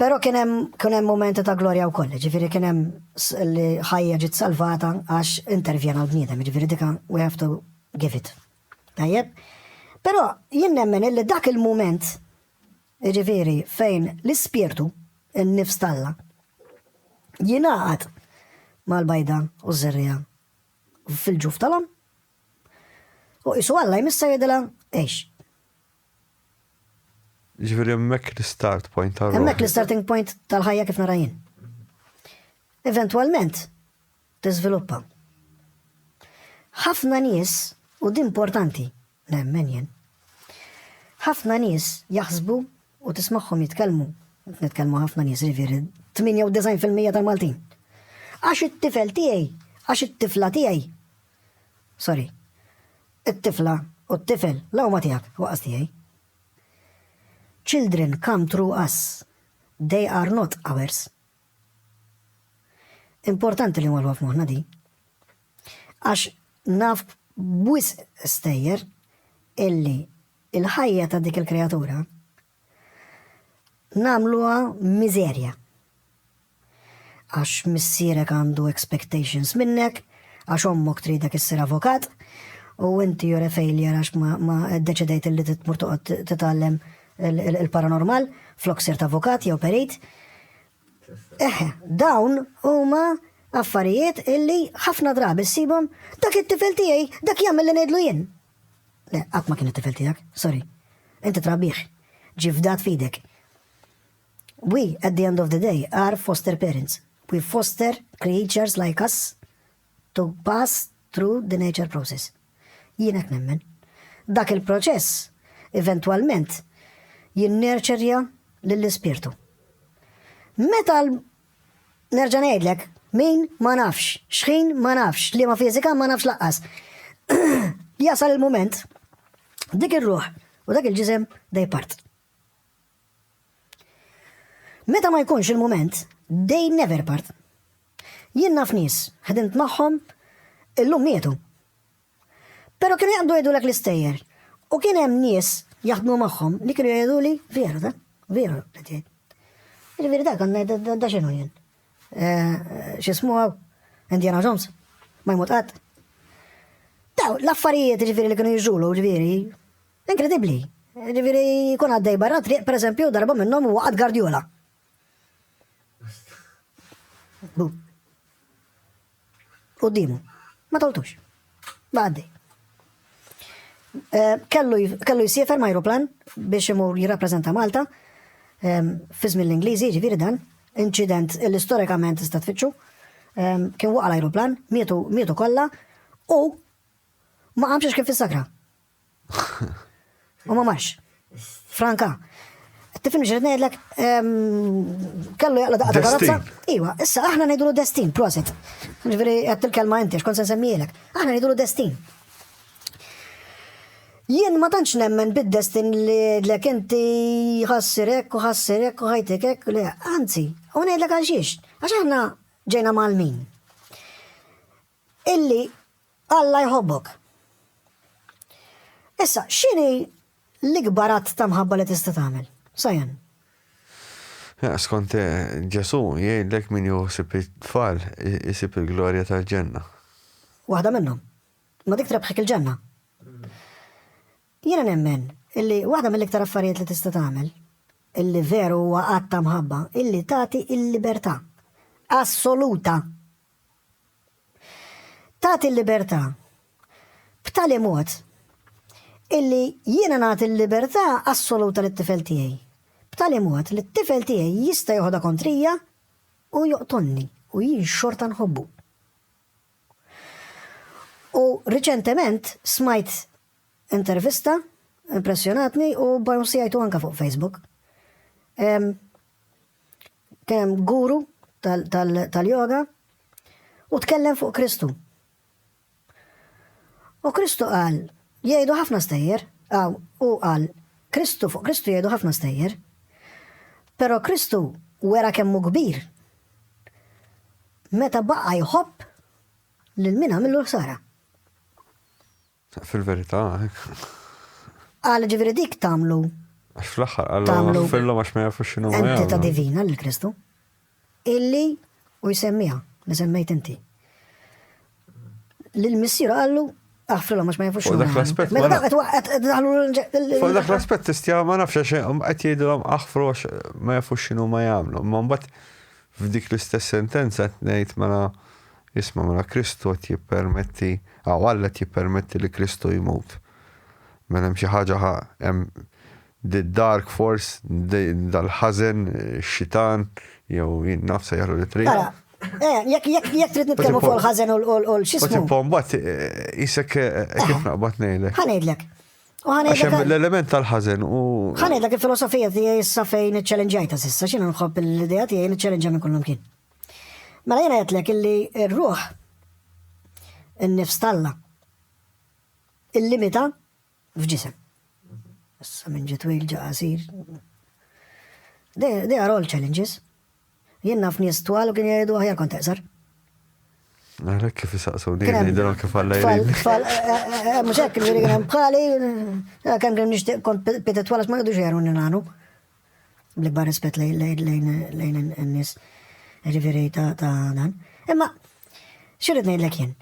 Pero kien hemm momenti ta' glorja wkoll, ġifieri kien hemm li ħajja ġiet salvata għax intervjena l-bniedem, ġifieri dika we have to give it. Tajjeb? Pero jien nemmen illi dak il-moment jiġifieri fejn l-ispirtu, in-nifs t'Alla, jingħaqad mal-bajda u ż-żerriegħa fil-ġuf tal-omm, u qisu Alla jmissha u jgħidilha, Għix. Jiġifieri hemmhekk l-istart point tal-ruħ. Hemmhekk l-istarting point tal-ħajja kif nara jien. Eventwalment, tiżviluppa. Ħafna nies, u din mportanti, nemmen jien, ħafna nies jaħsbu u tismagħhom jitkellmu, nitkellmu ħafna nies jiġifieri 98% tal-Maltin. Għax it-tifel tiegħi, għax it-tifla tiegħi. Sorry. It-tifla u t-tifel la huma tiegħek waqas tiegħi. Children come through us. They are not ours. Importanti li nwarrwa f'moħħna din. Għax naf b'wisq stejjer illi l-ħajja ta' dik il-kreatura nagħmluha miżerja. Għax missierek għandu expectations minnek, għax ommok tridek issir avukat, u inti jore failure għax ma ddeċidejt illi titmur toqgħod titgħallem il-paranormal flok sirt avukat jew perit. Eh, dawn huma affarijiet illi ħafna drabi ssibhom dak it-tifel tiegħi dak jagħmel li ngħidlu jien. Le, qatt ma kien it-tifel tiegħek, sorry. Inti trabiħ, ġifdat fidek. We, at the end of the day, are foster parents. We foster creatures like us to pass through the nature process. Jien hekk nemmen. Dak il-proċess eventwalment jinnerċerja lill-ispirtu. Meta nerġa' ngħidlek min ma nafx, xħin ma nafx, li ma fiżika ma nafx laqqas. Jasal il-mument dik ir-ruħ u dak il-ġisem dej part. Meta ma jkunx il-mument, they never part. Jien naf nies, ħdimt magħhom, illum mietu. Però kienu jaqbdu jgħidulek l-istejjer u kien hemm nies jaħdmu magħhom li kienu jgħiduli veru dan, veru qed jgħid. Jiġifieri dak għandna da x'inhu jien. Eh, x'ismu hawn? Indiana Jones. Ma jmut qatt. Daw l-affarijiet ġifieri li kienu jiġulu ġifieri Inkredibbli! Jiġifieri jkun għaddej barra t-triq, pereżempju, darba minnhom huwa qatt Guardiola. Bu. Quddiemu. Ma toltux. Baqa' għaddej. Eh, kellu kellu jsiefer ma' aeroplan biex imur jirrappreżenta Malta ehm, fi żmien l-Ingliżi, ġifieri dan, inċident li storikament tista' tfittxu. Ehm, kien waqa' l-aeroplan, mietu mietu kollha u ma qamx kien fis-sakra. U ma marx. Franka, Tifimni xirrit ngħidlek, kellu jaqla daqqa ta' karozza. Iwa, issa aħna ngħidulu destin, prosit. Ġifieri qed il-kelma inti x'kont se nsemmilek. Aħna ngħidulu destin. Jien ma tantx nemmen bid-destin li lek inti ħassirek u ħassirek u ħajtikek, le, anzi, u ngħidlek għal xiex, għax aħna ġejna mal-min. illi Alla jħobbok. Issa, x'inhi l-ikbar att ta' mħabba li tista' tagħmel? Sajan. Eh, skont eh, Ġesu, jgħidlek min juħsib it-tfal isib il-glorja tal-ġenna. Waħda minnhom. Ma dik trebħek il-ġenna. Jiena nemmen illi waħda mill-iktar affarijiet li tista' tagħmel illi veru huwa qatt ta' mħabba illi tagħti il-libertà assoluta Tagħti l-libertà. B'tali mod illi jiena nagħti l-libertà assoluta lit-tifel tiegħi. B'tali mod li t-tifel tiegħi jista' joħodha kontrija u joqtolni u jien xorta nħobbu. U riċentement smajt intervista impressjonatni u bonsjajtu anka fuq Facebook. Kien hemm guru tal-yoga u tkellem fuq Kristu. U Kristu qal, jgħidu ħafna stejjer, għaw, u qal, Kristu fuq Kristu jgħidu ħafna stejjer. Pero Kristu wera kemmu kbir. Meta baqa jħobb lil min għamilu ħsara. Fil-verità, hekk. Qal, jiġifieri dik tagħmlu. Għax fl-aħħar qal, iffirlhom għax ma jafux x'inhuma jagħmlu. Entità divina lil Kristu. Illi u jsemmiha li semmejt inti. Lil missieru qallu Aħfrilhom għax ma jafux xogħol. Dak l-aspett. Mela dak qed daħlu Fuq dak l-aspett tistja ma nafx għax qed jgħidilhom aħfru għax ma jafux x'inhu ma jagħmlu. Ma mbagħad F'dik l-istess sentenza qed ngħid mela, isma' mela Kristu qed jippermetti, aw Alla qed jippermetti li Kristu jmut. Mela hemm xi ħaġa ħa, hemm the dark force, dal-ħażen, ix-xitan, jew jien naf sejjaħlu li trid. Ara, eh, jekk jekk jekk trid nitkellmu fuq il-ħażen u l-xismu. Imma mbagħad isek kif naqbad ngħidlek. Ħa ngħidlek. Għax hemm l-element tal-ħażen u. Ħanedlek il-filosofija tiegħi issa fejn iċċellenġajta s'issa x'inhu nħobb l-idea tiegħi niċċellenġa minn kullum kien. Mela jiena għedlek illi r-ruħ in-nifs talla il-limita f'ġisem. Issa minn ġitwil ġaqasir. They are all challenges. Jien naf nies twal u kien jgħidu aħjar kont eqsar. Naħlek kif jisaqsuni, jgħidilhom kif għalla jrid. Tfal, eh, eh, eh, mhux hekk kien hemm bħali, kemm kien nixtieq kont pita twal ma jgħidux jgħidu nilgħanu. Bl-ikbar rispett lejn in-nies ġifieri ta' dan. Imma xirrid ngħidlek jien.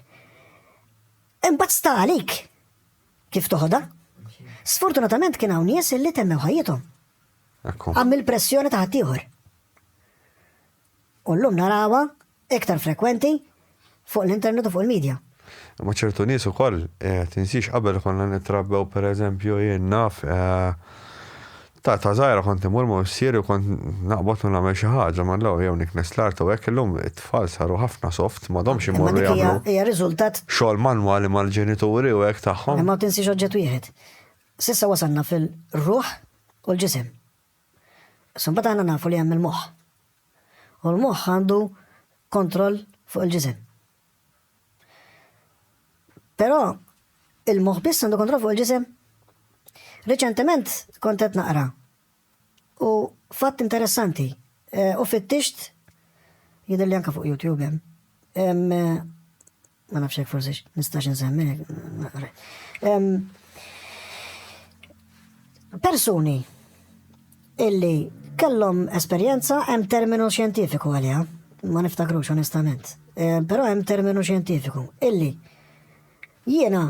Imbagħad sta għalik kif toħodha. Sfortunatament kien hawn nies li temmew ħajjithom. Hemm il-pressjoni ta' ħaddieħor. U llum narawha iktar frekwenti fuq l-internet u fuq il-medja. Ma ċertu nies ukoll eh, tinsix qabel konna nittrabbew pereżempju jien naf eh, ta' ta' żgħira kont imur ma' missieri u kont naqbad u nagħmel xi ħaġa ma' law jew niknes l-art u hekk illum it-tfal saru ħafna soft ma domx imorru jagħmlu. Hija riżultat xogħol manwali mal-ġenituri u hekk tagħhom. Ma tinsix oġġett wieħed. S'issa wasalna fil-ruħ u l-ġisem. Issa mbagħad aħna nafu li hemm il-moħħ. U l-moħħ għandu kontroll fuq il-ġisem. Però il-moħħ biss għandu kontroll fuq il-ġisem? Riċentement kont qed naqra U fatt interessanti, u fittixt jidher li anke fuq YouTube hemm. Hemm ma nafx hekk forsi nistax insemmi. Persuni illi kellhom esperjenza hemm terminu xjentifiku għaliha, ma niftakrux onestament. Però hemm terminu xjentifiku illi jiena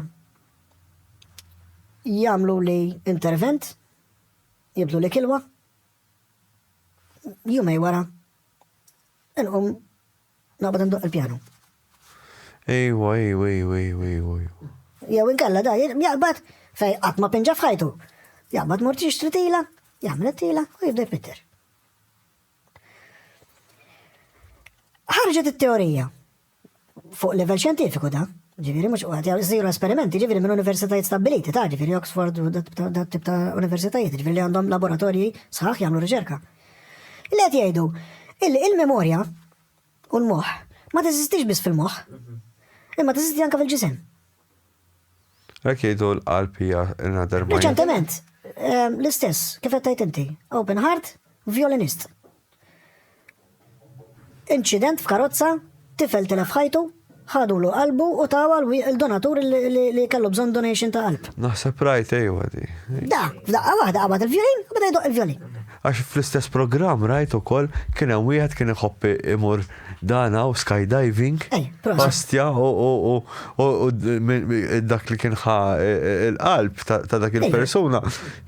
jagħmlu li intervent Jibdlu l-ikilwa, jumej wara, inqum naqbad ndoq il-pjanu. Ejwa, ejwa, ejwa, ejwa, ejwa. Jew inkella da, jaqbad fej qatt ma pinġa f'ħajtu. Jaqbad mort jixtri tila, jagħmel tila u jibda jpitter. Ħarġet it-teorija Fuq livell xjentifiku dan, ġifieri mhux qed isiru esperimenti ġifieri minn universitajiet stabbiliti ta' ġifieri Oxford u dat tip ta' universitajiet ġifieri li għandhom laboratorji sħaħ jagħmlu riċerka. Li qed jgħidu illi il-memorja u l-moħħ ma teżistix biss fil-moħħ imma teżisti anke fil-ġisem. Hekk jgħidu l-qalb hija another mind. Reċentement, ehm, l-istess, kif qed tgħid inti, open heart, violinist. Inċident f'karozza, tifel telef ħajtu, ħadulu qalbu u tawa l-donatur li kellu bżon donation ta' qalb. Naħseb rajt ejwa di. Da, f'daqqa waħda qabad il-vjolin, bada jdoq il-vjolin. Għax fl-istess programm rajt ukoll kien hemm wieħed kien iħobb imur dan hawn skydiving, Ej, proset. pastja u u- u- u- u d- min- min- dak li kien ħa e- e- il-qalb ta' ta' dak il-persuna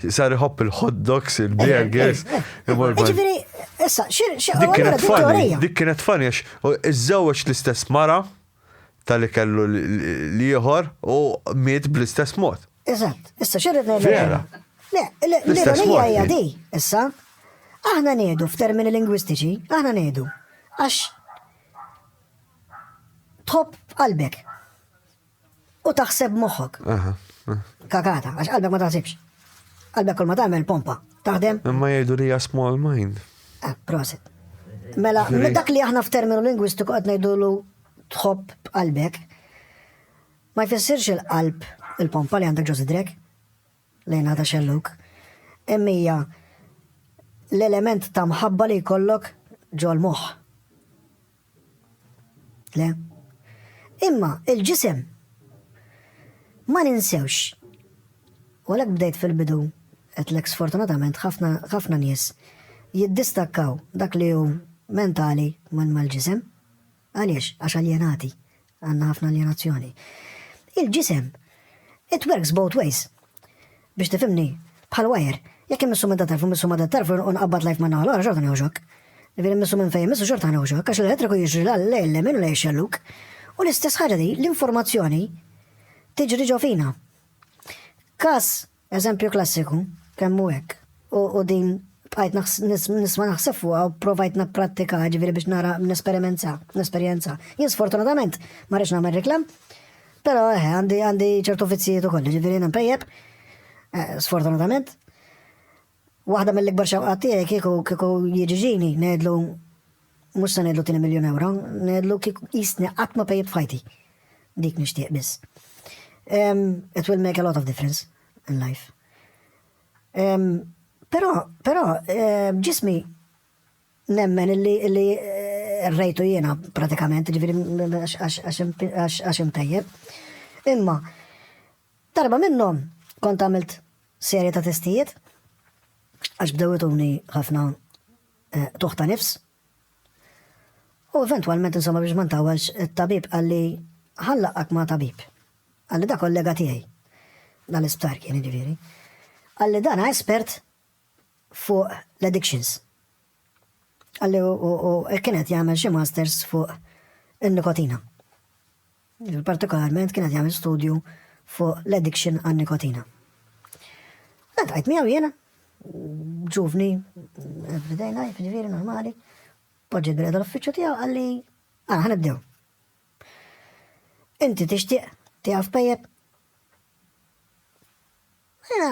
sar iħobb il-hot dogs, il-burgers, imur ban- Ġifiri, issa, xir, xir, Dik kienet funny, Vittoria. dik kienet funny għax u iżżewweġ l-istess mara tal-li kellu l- l- l-ieħor u miet bl-istess mod. Eżatt, issa xi rrid ngħidlek. Vera. Le, le, l-ironija hija di, issa. Aħna ngħidu f'termini lingwistiċi, aħna ngħidu għax tħobb qalbek u taħseb moħħok. Kakata, għax qalbek ma taħsibx. Qalbek kol ma tagħmel pompa, taħdem. Imma jgħidu li hija small mind. Ah, prosit. Mela, dak li aħna f'terminu lingwistiku qed ngħidulu tħobb qalbek. Ma jfissirx il-qalb, il-pompa li għandek ġo sidrek, lejn għada xellug, imma hija l-element ta' mħabba li jkollok ġol-moħħ. Le? Imma il-ġisem ma ninsewx. U għalhekk bdejt fil-bidu qedlek sfortunatament ħafna nies jiddistakkaw dak li hu mentali minn mal-ġisem. Għaliex? Għax aljenati. Għandna ħafna aljenazzjoni. Il-ġisem, it works both ways. Biex tifhimni, bħal wajer, jekk immissu minn da tarf u mmissu ma' da tarf u nqabbad lajf ma' naħa l-oħra xorta nieħu xokk. Ġifieri mmissu minn fejn immissu xorta nieħu xokk għax l-elettriku jiġri la lejn lemin u lejn xelluk. U l-istess ħaġa di l-informazzjoni tiġri ġo fina. Każ Eżempju klassiku, kemm hu hekk. U, u din bqajt nisma' naħseb fuqha u provajt napprattika ġifieri biex nara nesperimenta, nesperjenza. Jien sfortunatament ma rridx nagħmel riklam, però eh, għandi għandi ċertu vizzijiet ukoll, ġifieri jiena mpejjeb, eh, sfortunatament. Waħda mill-ikbar xewqat tiegħi kieku kieku jiġi ġini, ngħidlu mhux se ngħidlu tieni miljun ewro, ngħidlu kieku qisni qatt ma pejjt f'ħajti. Dik nixtieq biss. Um, it will make a lot of difference in life. Um, però, però, eh, ġismi nemmen illi, illi eh, rejtu jiena pratikament, ġifiri għax imtejjeb. Imma, F'darba minnhom kont għamilt serje ta' testijiet għax bdew ituni ħafna eh, tuħ ta' nifs. U eventwalment insomma biex ma ntawelx it-tabib qalli ħallaqak ma' tabib. Qalli da kollega tiegħi. Dan l-isptar kien ġifieri. Qalli dan espert fuq l-addictions. Għalli u kienet jagħmel xi masters fuq in-nikotina. Partikolarment kien qed jagħmel studju fuq l-addiction għan-nikotina. Għadqajt miegħu jiena, ġuvni, everyday life, ġifieri normali, poġġi greda l-uffiċċju tiegħu għalli għana ah, ħanibdew. Inti tixtieq tiegħu f'pejjeb? Jiena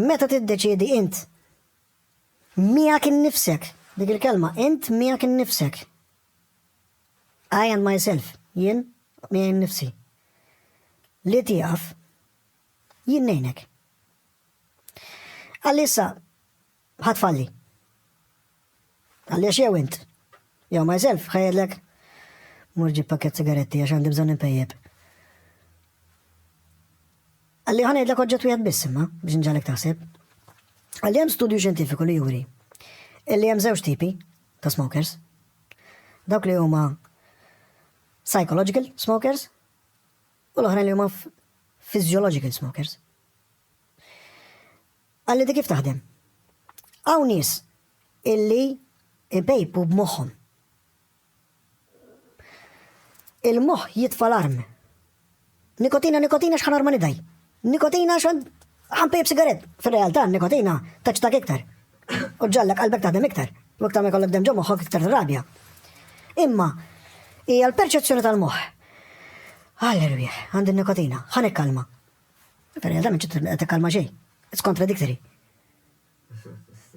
Meta tiddeċiedi int miegħek innifsek, dik il-kelma, int miegħek innifsek. I and myself, jien miegħi nnifsi. Li tieqaf, jien ngħinek. Għalissa, Ħa tfalli. Għaliex jew int, jew myself, ħa jgħidlek, Mur ġib pakkett sigaretti għax għandi bżonn inpejjep. Għalli ħa ngħidlek oġġett wieħed biss imma biex nġalek taħseb. Għalli hemm studju xjentifiku li juri illi hemm żewġ tipi ta' smokers. Dawk li huma psychological smokers u l-oħrajn li huma physiological smokers. Qalli di kif taħdem. Hawn nies illi ipejpu b'moħħhom. Il-moħħ jitfa' l-arm. Nikotina, nikotina x'ħan arma nidaj. Nikotina x'ħan ħanpejb sigaret. Fir-realtà nikotina taċtak iktar. U ġallek qalbek taħdem iktar. U iktar ma jkollok dem ġo moħħok iktar rabja. Imma hija l-perċezzjoni tal-moħħ. Alleluja, għandi nikotina, ħan ikkalma. Perja da minċu t kalma xej. It's contradictory.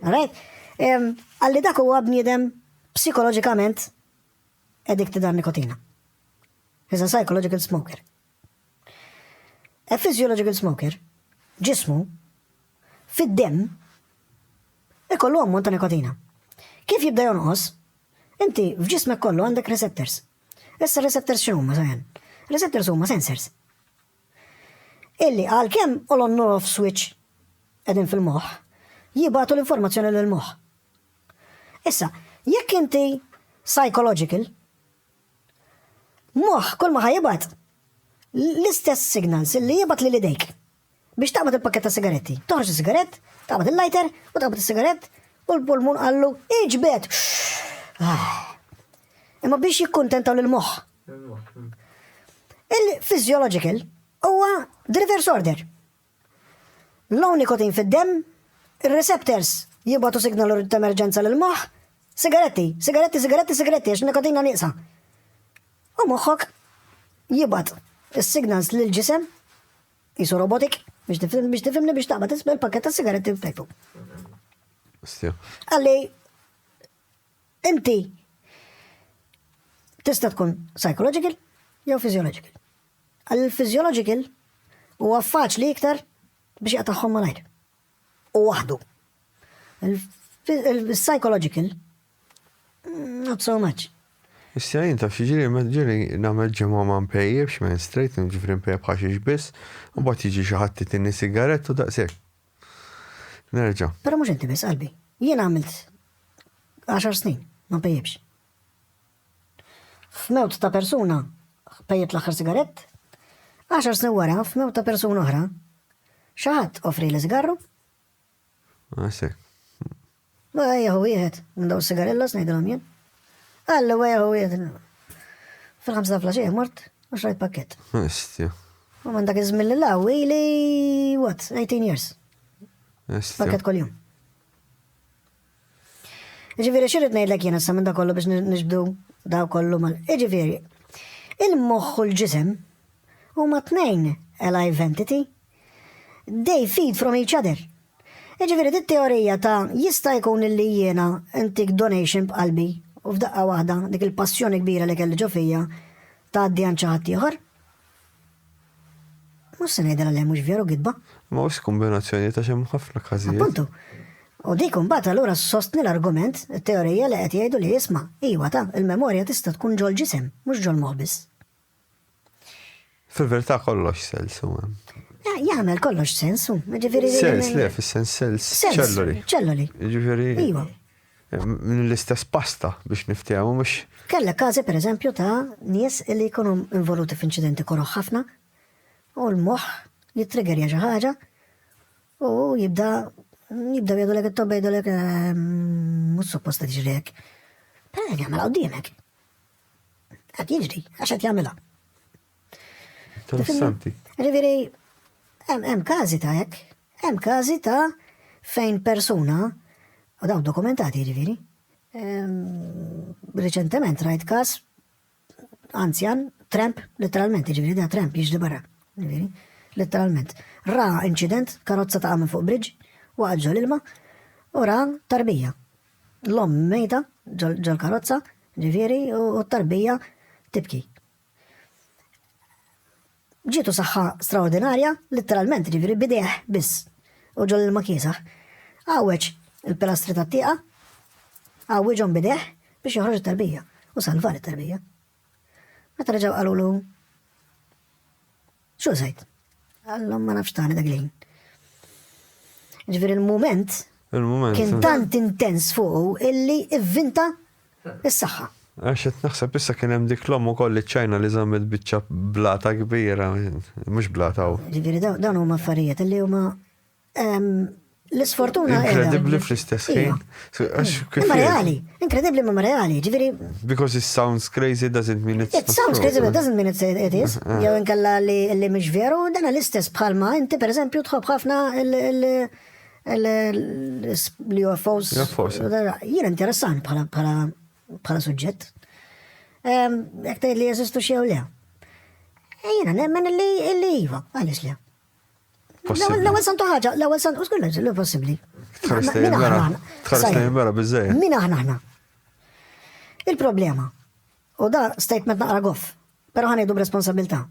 Alright? Għalli dak huwa bniedem psikoloġikament addicted għal nikotina. He's a psychological smoker. A physiological smoker, ġismu, fid-dem, ikollu ammont ta' nikotina. Kif jibda jonqos, inti f'ġismek kollu għandek receptors. Issa receptors x'huma sajan? Receptors huma sensors. illi għalkemm on u off switch qegħdin fil-moħħ, jibgħatu l-informazzjoni lill-moħħ. Issa, jekk inti psychological, moħħ kull ma ħajibgħat l-istess signals illi jibgħat lil idejk biex taqbad il-pakket ta' sigaretti. Toħroġ is-sigarett, taqbad il-lighter u taqbad is-sigarett u l-pulmun qallu iġbed. Ah. Imma biex jikkuntentaw l-moħħ Il-physiological huwa the reverse order. Low nicotine fid-demm, ir-receptors jibgħatu signal ta' emerġenza lill-moħħ, sigaretti, sigaretti, sigaretti, sigaretti għax nikotina nieqsa. U moħħok jibgħat is-signals lill-ġisem jisu robotik biex tifhimni biex tifhimni biex taqbad isma' l-pakket ta' sigaretti f'tejpu. Għalli Inti tista' tkun psychological jew physiological. Għall-physiological huwa faċli iktar biex jaqtagħhom malajr. U waħdu. Il-psychological not so much. Issa jien taf xiġri ma ġiri nagħmel ġimgħa ma npejjibx minn straight, ġifri npejjeb ħaxix biss, u bat jiġi xi ħadd titini sigarett u daqshekk. Nerġa'. Però mhux inti biss qalbi. Jien għamilt għaxar snin, ma npejjibx. F'mewt ta' persuna pejjibt l-aħħar sigarett, għaxar snin wara f'mewt ta' persuna oħra, xi ħadd offri li sigarru. Għasek. Ah, Ma jieħu wieħed minn dawn sigarillas ngħidilhom jien. Qal li huwa jieħu wieħed fil-ħamsa ta' flaxija mort u xrajt pakkett. Estja. U minn dak iż-żmien lil hawn ili what 18 years. Estja. Pakkett kuljum. Ġifieri xirrid ngħidlek jien issa minn dak kollu biex nixbdu daw kollu mal. Ġifieri, il-moħħ u l-ġisem huma tnejn alive entity. They feed from each other. Jiġifieri dit-teorija ta' jista' jkun illi jiena ntik donation b'qalbi u f'daqqa waħda dik il-passjoni kbira li kelli ġo fija tgħaddi għand xi ħadd ieħor. Mhux se ngħidilha le mhux veru gidba. Ma hux kombinazzjoni ta' xi ħafna każijiet. Appuntu. U dik imbagħad allura ssostni l-argument, it-teorija li qed jgħidu li isma', iwa ta, il-memorja tista' tkun ġol-ġisem, mhux ġol-moħħ biss. Fil-verità kollox sels u hemm. Jagħmel kollox sens u, ġifieri. Sens le, fis-sens sels ċelloli. Ċelloli. Ġifieri. Iva. Minn l-istess pasta biex niftehmu mhux. Kellek każi pereżempju ta' nies li jkunu involuti f'inċidenti koroħ ħafna u l-moħħ jittriggerja xi ħaġa u jibda jibda jgħidu lek it-tobba jgħidu lek ehm, mhux supposta tiġri hekk. Però jagħmel qudiemek. Qed jiġri, għax qed jagħmilha. Interessanti. Ġifieri, hemm każi ta' hekk, hemm każi ta' fejn persuna, u dawn dokumentati ġifieri, reċentement rajt każ anzjan, tramp, letteralment, ġifieri da tramp jiġri barra, ġifieri, letteralment. Ra incident, karozza ta' minn fuq bridge, waqgħet ġol ilma, u ra tarbija. L-omm mejta ġol-karozza, ġifieri, u t-tarbija tibki. Ġietu saħħa straordinarja, litteralment, ġifieri bidejh biss, u ġol ilma kiesaħ. Għawweġ il-pilastri tat-tieqa, għawwiġhom bidejh biex joħroġ it-tarbija u salvar it-tarbija. Meta reġgħu qalulu xu sejt? Għallhom ma nafx tani dak lejn. Ġifieri il-mument kien tant intens fuqu illi ivvinta s-saħħa. Għax qed naħseb issa kien hemm dik l-omm ukoll li ċajna li żammet biċċa blata kbira, mhux blata. Ġifieri dawn huma affarijiet li huma L-isfortuna. Inkredibli fl-istess ħin. Imma reali, inkredibli imma reali, ġifiri. Because it sounds crazy doesn't mean it's. It sounds crazy but doesn't mean it's it is. Eh, eh. Jew inkella li li mhux veru, dan l-istess bħalma inti pereżempju tħobb ħafna l-UFOs. Jien interessant bħala bħala bħala suġġett. Jekk tgħid li jeżistu xi jew le. Ejjina nemmen li li iva, għaliex le. L-ewwel santu ħaġa, l-ewwel santu u skolleġ li possibbli. Min aħna aħna. Il-problema. U da statement naqra goff, però ħanejdu b'responsabilità.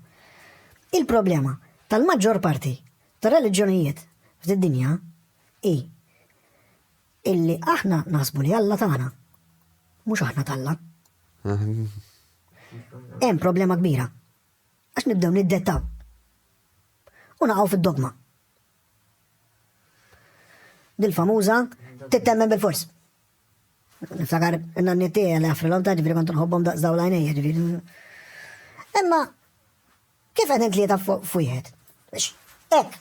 Il-problema tal-maġġor parti tar-reliġjonijiet fid-dinja i illi aħna naħsbu li Alla tagħna mhux aħna talla. Hemm problema kbira. Għax nibdew niddettaw. U naqgħu fid-dogma. Dil-famuża tittemmen bil-fors. Niftakar n-nanni tiegħi li għafrilhom ta' ġifieri kont nħobbhom daqs dawl għajnejja ġifieri. Imma kif qed intlieta f'wieħed? Hekk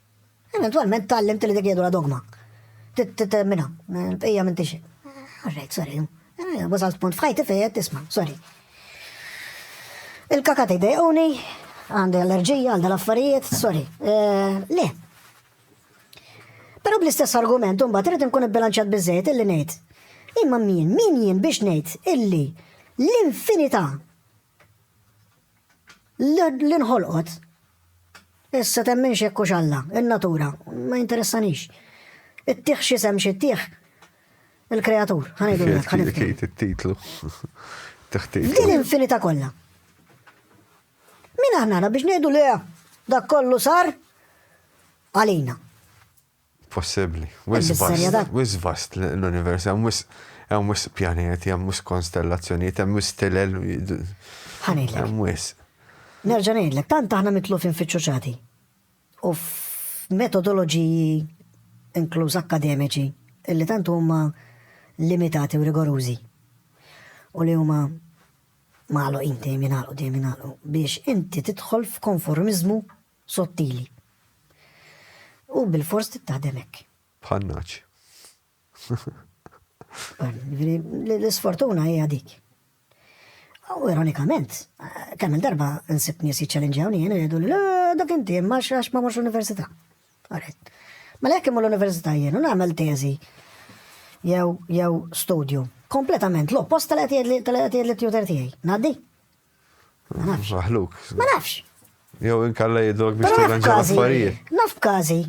Eventualment tallimt li dik hija dura dogma. Tittermina, bqija minn tixi. Alright, sorry. Eh, wasalt punt f'ħajti fejn tisma, sorry. Il-kakati dejquni, għandi allerġija għal dal-affarijiet, sorry. Eh, le. Pero bl-istess argument, un bat rrit nkun bilanċat bizzejt illi nejt. Imma min, min jien biex nejt illi l-infinità Li nħolqot. Issa temmen x'hekk hux Alla, in-natura, ma jinteressanix. Ittih x'isem xi ttih? Il-kreatur, ħanejdu hekk, ħanibki. It-titlu. Din infinita kollha. Min aħna biex ngħidu le dak kollu sar għalina. possibbli. Wisq vast, wisq vast l-univers, hemm wisq hemm wisq pjaneti, hemm wisq konstellazzjonijiet, hemm wisq tilel. Ħanejlek. Hemm wisq. Nerġa' ngħidlek, tant aħna mitlufin f'iċċuċati u f'metodoloġiji inkluż akkademiċi li tant huma limitati u rigorużi u li huma magħluqin dejjem jingħalqu dejjem jingħalqu biex inti tidħol f'konformiżmu Sottili. U bil-fors tittaħdem hekk. Bħannaċ. L-isfortuna hija dik. U ironikament, kemm il-darba nsib nies jiċċellenġjawni jien jgħidu li dak inti ma xax ma mhux università. Għaret. Ma lek imur l-università jien u nagħmel teżi jew jew studju. Kompletament l-oppost tal-qed jgħid li tutor tiegħi. Ngħaddi? Ma nafx. Maħluk. Ma nafx. Jew inkalla jidrok biex tirranġa l-affarijiet. Naf b'każi,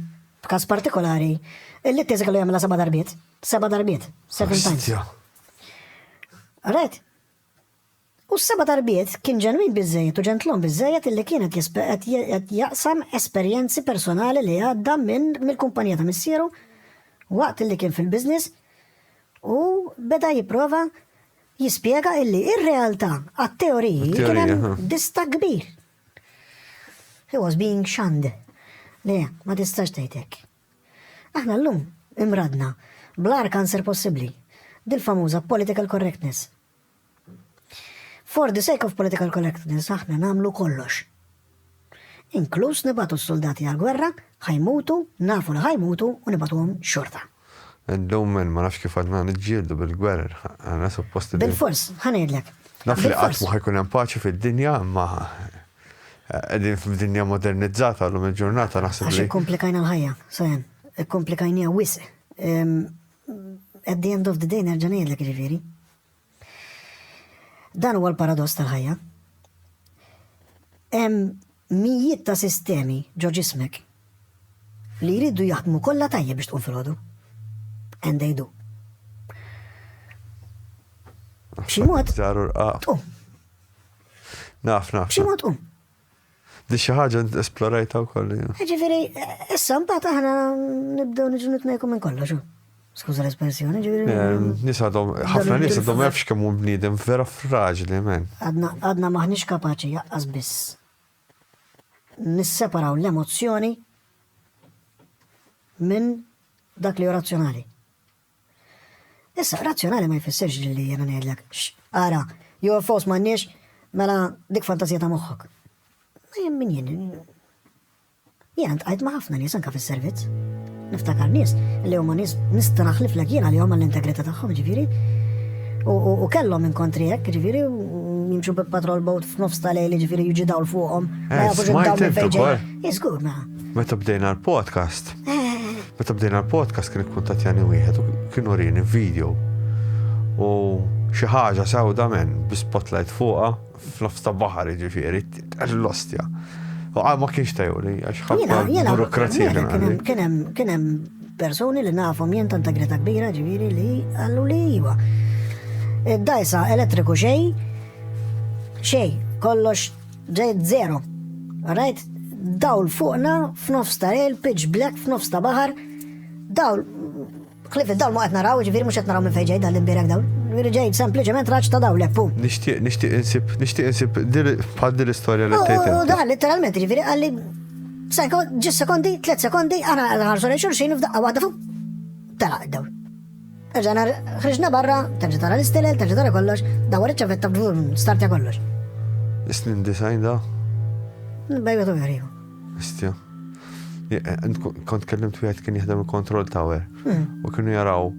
b'każ partikolari, illi t-teżi kellu jagħmilha seba' darbiet, seba' darbiet, seven times. Right? U s-seba darbiet kien ġenwin bizzejet u ġentlom bizzejet illi kienet qed jaqsam esperjenzi personali li għadda minn mill-kumpanija ta' missieru waqt li kien fil-biznis u beda jiprofa jispjega illi ir-realtà għat-teoriji kien hemm distakk kbir. He was being shunned. Le, ma tistax tgħid hekk. Aħna llum imradna bl-agħar kanser possibbli, dil-famuża political correctness. For the sake of political correctness aħna nagħmlu kollox. Inkluż nibagħtu s-suldati għall-gwerra, ħa jmutu, nafu li ħa jmutu u nibagħtuhom xorta. Illum min ma nafx kif għadna niġġieldu bil-gwerer, għandna suppost li. Bilfors, ħa ngħidlek. Naf li qatt ma ħa jkun hemm paċi fid-dinja, imma qegħdin f'dinja modernizzata llum il-ġurnata naħseb li. Għax ikkomplikajna l-ħajja, sajan, ikkomplikajnija wisq. At the end of the day nerġa' ngħidlek ġifieri. Dan huwa l-paradoss tal-ħajja. Hemm mijiet ta' sistemi ġo ġismek li jridu jaħdmu kollha tajjeb biex tqum filgħodu. And they do. B'xi mod. Żaru rqaq. Tqum. Naf, naf. B'xi mod tqum. Di xi ħaġa esplorajta wkoll. Ġifieri, issa mbagħad aħna nibdew niġu nitnejku minn kollox. Skuża l-espressjoni, ġifieri. Nies għadhom, ħafna nies għadhom ma jafx kemm hu bniedem vera fraġli, men. Għadna maħniex kapaċi jaqqas biss. Nisseparaw l-emozzjoni minn dak li hu razzjonali. Issa, razzjonali ma jfissirx li jiena ngħidlek, xx, ara, UFOs m'għandniex, mela dik fantażija ta' moħħok. Ma jem min jien. Jiena ntqajt ma' ħafna nies anka fis-servizz. Niftakar nies li huma nies nista' naħliflek jiena li huma l-integrità tagħhom ġifieri. U kellhom inkontri hekk ġifieri jimxu bi patrol boat f'nofs ta' lejli ġifieri jiġi dawl fuqhom. Eh, smajt fejġa. Jiżgur ma. Meta bdejna l-podcast, Meta bdejna l-podcast kien ikkuntatjani wieħed u kien urini video u xi ħaġa sewda men bi spotlight fuqha f'nofs ta' baħar ġifieri għax l-ostja. U għal ma kienx tajuli għax ħafna burokrazija kien hemm kien hemm persuni li nafhom jien ta' integrita kbira ġifieri li għallu li iva. Id-dajsa elettriku xej xej kollox Ġejt zero. Rajt dawl fuqna f'nofs ta' lejl, pitch black f'nofs ta' baħar. Dawl, klif id-dawl ma qed naraw, ġifieri mhux qed naraw minn fejn ġej dan l-imbierek dawl. Ġifieri ġejt sempliċement raġġ ta' dawl leppu. Nixtieq, nixtieq insib, nixtieq insib bħal din l-istorja li tgħid. U dan letteralment ġifieri qalli ġis sekondi, tliet sekondi, aħna ħarsu lejn xulxin f'daqqa waħda fuq. Tela' id-dawl. Erġa' nhar ħriġna barra, terġa' tara l-istilel, terġa' tara kollox, dawwar iċ-ċavetta b'dvur startja kollox. Is-snin disgħin da? Bejwet u veriju. Istja. Kont kellimt wieħed kien jaħdem il-kontroll tower hmm. u kienu jaraw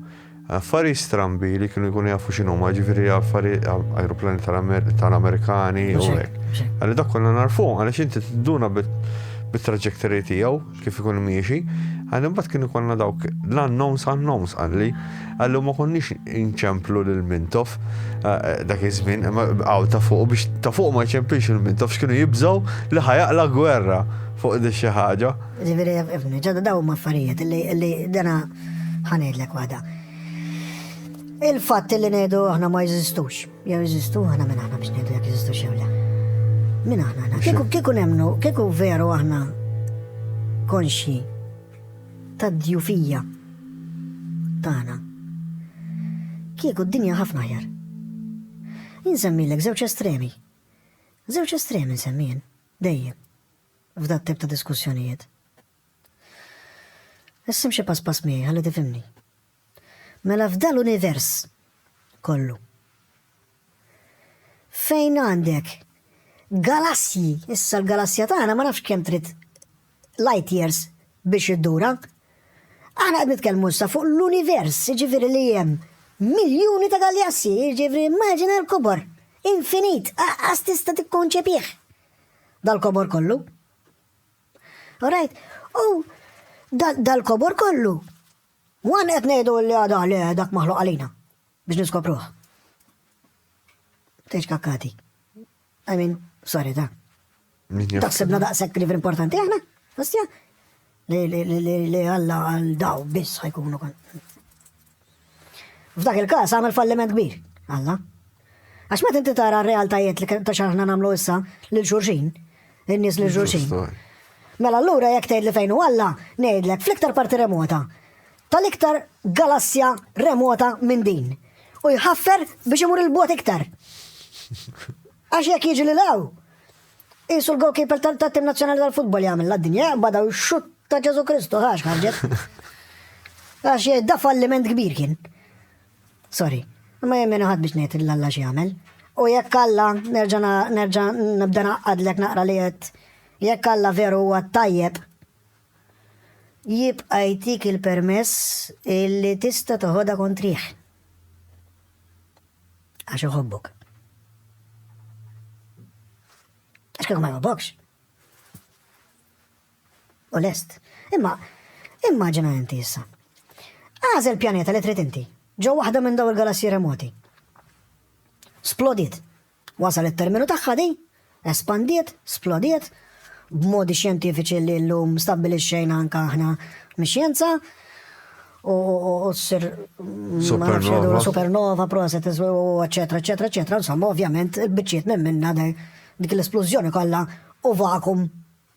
affari strambi li kienu jkunu jafu xinu ma ġifiri affari aeroplani tal-Amerikani u hekk. Għalli dak konna narfu, għalli xinti t-duna bit-trajectory tijaw, kif ikun miexi, għal imbagħad kien ikollna dawk l-annoms annoms għalli, għallu ma konniex inċemplu lil Mintof eh, eh, dak iż-żmien, għaw ta' fuq biex ta' fuq ma jċemplix il-Mintof x'kienu jibżgħu li ħajaqla gwerra fuq di xi ħaġa. Ġifieri ifni, ġodda daw ma' affarijiet li dana ħanejdlek waħda. Il-fatt li ngħidu aħna ma jeżistux. Jew jeżistu aħna minn aħna biex ngħidu jekk jeżistu xew le. Minn aħna aħna. Kieku kieku nemnu, kieku veru aħna konxi ta' djufija tagħna. Kieku d-dinja ħafna ħjar. Insemmilek żewġ estremi. Żewġ estremi nsemmien dejjem f'dat tip ta' diskussjonijiet. Issim xi pass pass miegħi ħalli tifimni. Mela f'dal univers kollu fejn għandek galassji, issa l-galassja tagħna ma nafx kemm trid light years biex iddura. Aħna qed nitkellmu issa fuq l-univers, jiġifieri li hemm miljuni ta' galassji, jiġifieri immaġina l-kobor infinit, aqqas tista' tikkonċepih dal-kobor kollu. Alright, u dal-kobor kollu One qed ngħidu li għadah le dak maħluq għalina biex niskopruh. Tgħidx kakkati. I mean, sorry ta. Taħsibna daqshekk li importanti aħna? Ostja? Li Alla għal daw biss ħajkunu kon. F'dak il-każ għamel falliment kbir. Alla. Għax meta inti tara r-realtajiet li ta' xaħna nagħmlu issa lil xulxin, in-nies lil xulxin. Mela allura jekk tgħid li fejn hu Alla, ngħidlek fl-iktar parti remota, tal-iktar galassja remota minn din. U jħaffer biex imur il-bot iktar. Għax jekk jiġi li law, jisu l-goalkeeper tal-tim nazjonali tal-futbol jgħamil la dinja bada u xut ta' Ġesu Kristu, għax ħarġet. Għax jgħid da falliment kbir kien. Sorry, imma jien min ħadd biex ngħid lil Alla x'jagħmel. U jekk Alla, nerġa' nerġa' nibda ngħaqqadlek naqra li qed, jekk Alla veru huwa t-tajjeb, jibqa' jtik il-permess illi tista' toħodha kontrih. Għax iħobbok. Għax kieku ma jħobbokx. u lest. Imma, immaġina inti issa. Agħżel pjaneta li trid inti, ġo waħda minn dawn il-galassji remoti. Splodiet. Wasal it-terminu tagħha di, espandiet, splodiet, b'modi xjentifiċi li llum stabbilixxejna anke aħna mix-xjenza, u ssir supernova, supernova, proset, eċetera, eċetera, eċetera, insomma, ovvjament, il-biċċiet minn minna dik l-esplużjoni kollha u vakum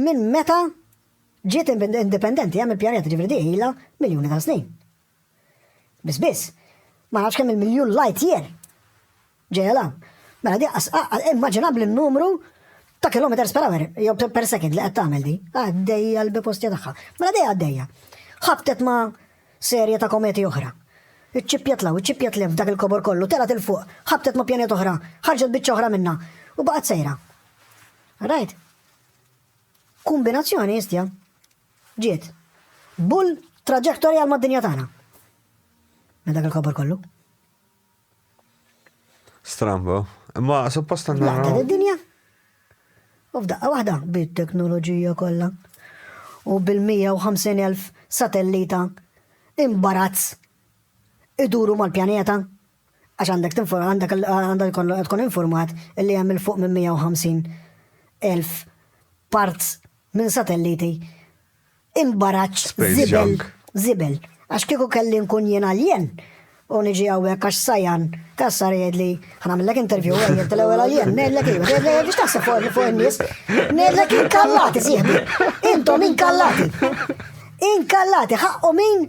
Minn meta ġiet indipendenti hemm il-pjaneta, ġifieri di ilha miljuni ta' snin. Biss biss, ma nafx kemm il-miljun light year ġejja l Mela di immaġinabbli n-numru ta' kilometers per hour, jew per second li qed tagħmel di. Għaddejja l-bipostja tagħha. Mela dejja għaddejja. Ħabtet ma' serje ta' kometi oħra. Iċċippjat law, iċċippjat lef dak il-kobor kollu, telgħet il fuq, ħabtet ma' pjaneta oħra, ħarġet biċċa oħra minnha u baqgħet sejra. Rajt? Kumbinazzjoni istja. Ġiet. Bull traġektori għal mad-dinja tagħna. Minn dak il-kobor kollu. Strambo. Ma suppost għandna. Laqtet id-dinja. U f'daqqa waħda bit-teknoloġija kollha. U bil-150,000 satellita imbarazz iduru mal-pjaneta Għax għandek tinfor, għandek il- għandha jkollok tkun infurmat li hemm 'il fuq minn 150 elf parts minn satelliti imbaraċċ Space żibel, junk. żibel. Għax kieku kelli nkun jien alien u niġi hawnhekk għax sajan kassar jgħidli ħanamillek interview għajjel tal-ewwel alien, ngħidlek ejja, ngħidlek ejja biex taħseb fuq fuq in-nies. Ngħidlek inkallati sieħbi. Intom inkallati. Inkallati ħaqqu min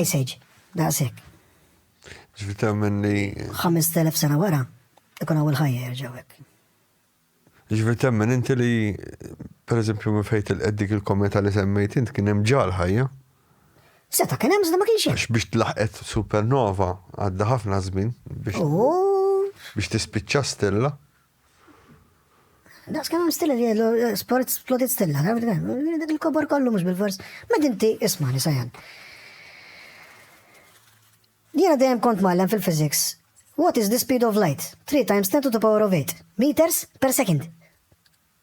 Ice Age, daqshekk. Ġifi temmen li. 5000 sena wara, ikun għaw il-ħajja jirġawek. Ġifi temmen inti li, per eżempju, minn fejt il-qeddik il-kometa li semmejt int kien hemm ġal ħajja. Seta kien hemm ma kienx hemm. Biex tlaħqet supernova għadda ħafna żmien biex. Biex tispiċċa stella. Daqs kemm hemm stilla li jgħidu eh, sport splodit stilla, dak il-kobor kollu mhux bil-fors. Ma dinti ismani sajan. Jiena dejjem kont mallem fil-physics. What is the speed of light? 3 times 10 to the power of 8 meters per second.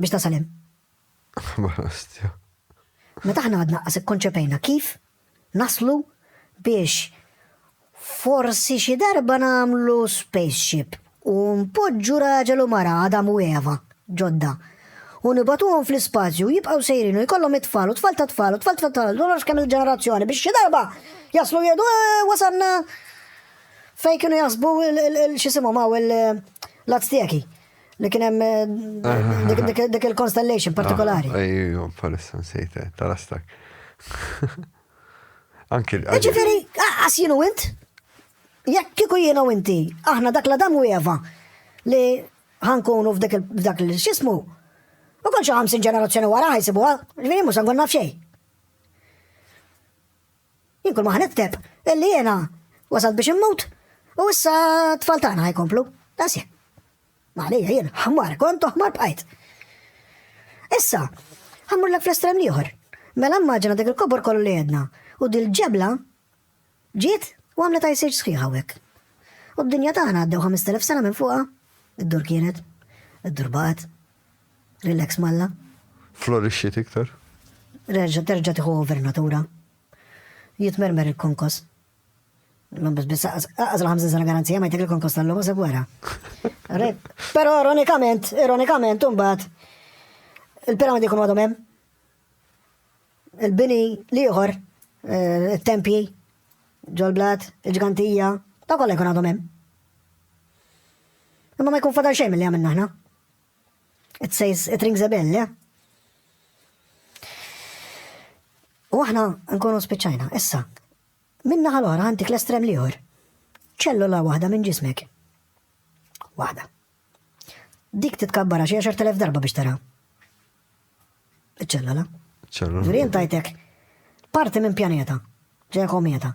biex nasal hemm. Barastja. Meta aħna għadna qas ikkonċepejna kif naslu biex forsi xi darba nagħmlu spaceship u npoġġu raġel u mara Adam u Eva ġodda u nibatuhom fl-ispazju jibqgħu sejrin u jkollhom it-tfal u tfal ta' tfal u tfal ta' tfal u kemm il-ġenerazzjoni biex xi darba jaslu jgħidu eh, wasanna fej kienu jasbu l-xisimhom hawn l-azteki. Li kien hemm eh, dik il-constellation partikolari. Ah, ejju, palissa nsejt, eh, tarastak. Anki. Ġifieri, għas jienu int? Jekk kieku jienu inti, aħna dak la dam u Eva li ħankunu f'dak il-xismu. U kol xi 50 ġenerazzjoni wara ħajsibuha, ġifieri mhux nkun naf xejn. Jien kull ma ħa nikteb illi jiena wasalt biex immut u issa t-tfal tagħna ħajkomplu. Għasja. Għalija jien ħmar kont u ħmar bqajt. Issa, ħammur l fl-estrem liħor. Mela mmaġina dik il-kobor kollu li jedna u dil-ġebla ġiet u għamlet għajsirġ sħiħa għek. U d-dinja tagħna għaddew 5000 sena minn fuqa, id-dur kienet, id-dur baqgħet. Relax Malla. Florixxiet iktar. Reġa' terġa' tieħu over natura. Jitmermer il-konkos. Ma biss biss aqas l-ħamsin sena garanzija ma jtek il-konkos tal-lum se wara. Però ironikament, ironikament imbagħad il-piramidi jkunu għadhom hemm. Il-bini l-ieħor, eh, it-tempji, ġol-blat, il-ġgantija, ta' kollha jkun għadhom hemm. Imma ma jkun fadal xejn mill-li għamilna ħna. It says, it rings a bell, le? U aħna nkunu spiċċajna, issa, minna ħal oħra għandik l-estrem liħor. ċellula waħda minn ġismek. Waħda. Dik titkabbara xi 10,000 darba biex tara. Iċ-ċellula. ċellula. Ġurien tajtek parti minn pjaneta, ġeja kometa.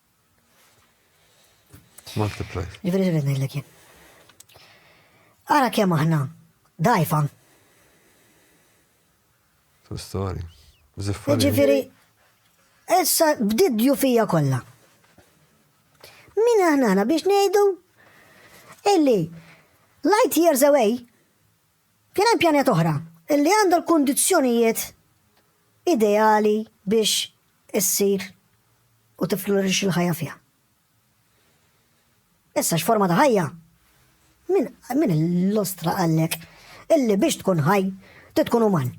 Multiply. Ġifiri ġifiri ngħidlek jien. Ara kemm aħna dajfa. True story. Ziffari. Ġifiri, issa bdiet djufija kollha. Min aħna aħna biex ngħidu illi light years away Kien hemm pjanijiet oħra li għandha l-kundizzjonijiet ideali biex issir u tifflurixxi l-ħajja fiha. Issa x'forma ta' ħajja? Min min illostra qallek illi biex tkun ħaj trid tkun uman?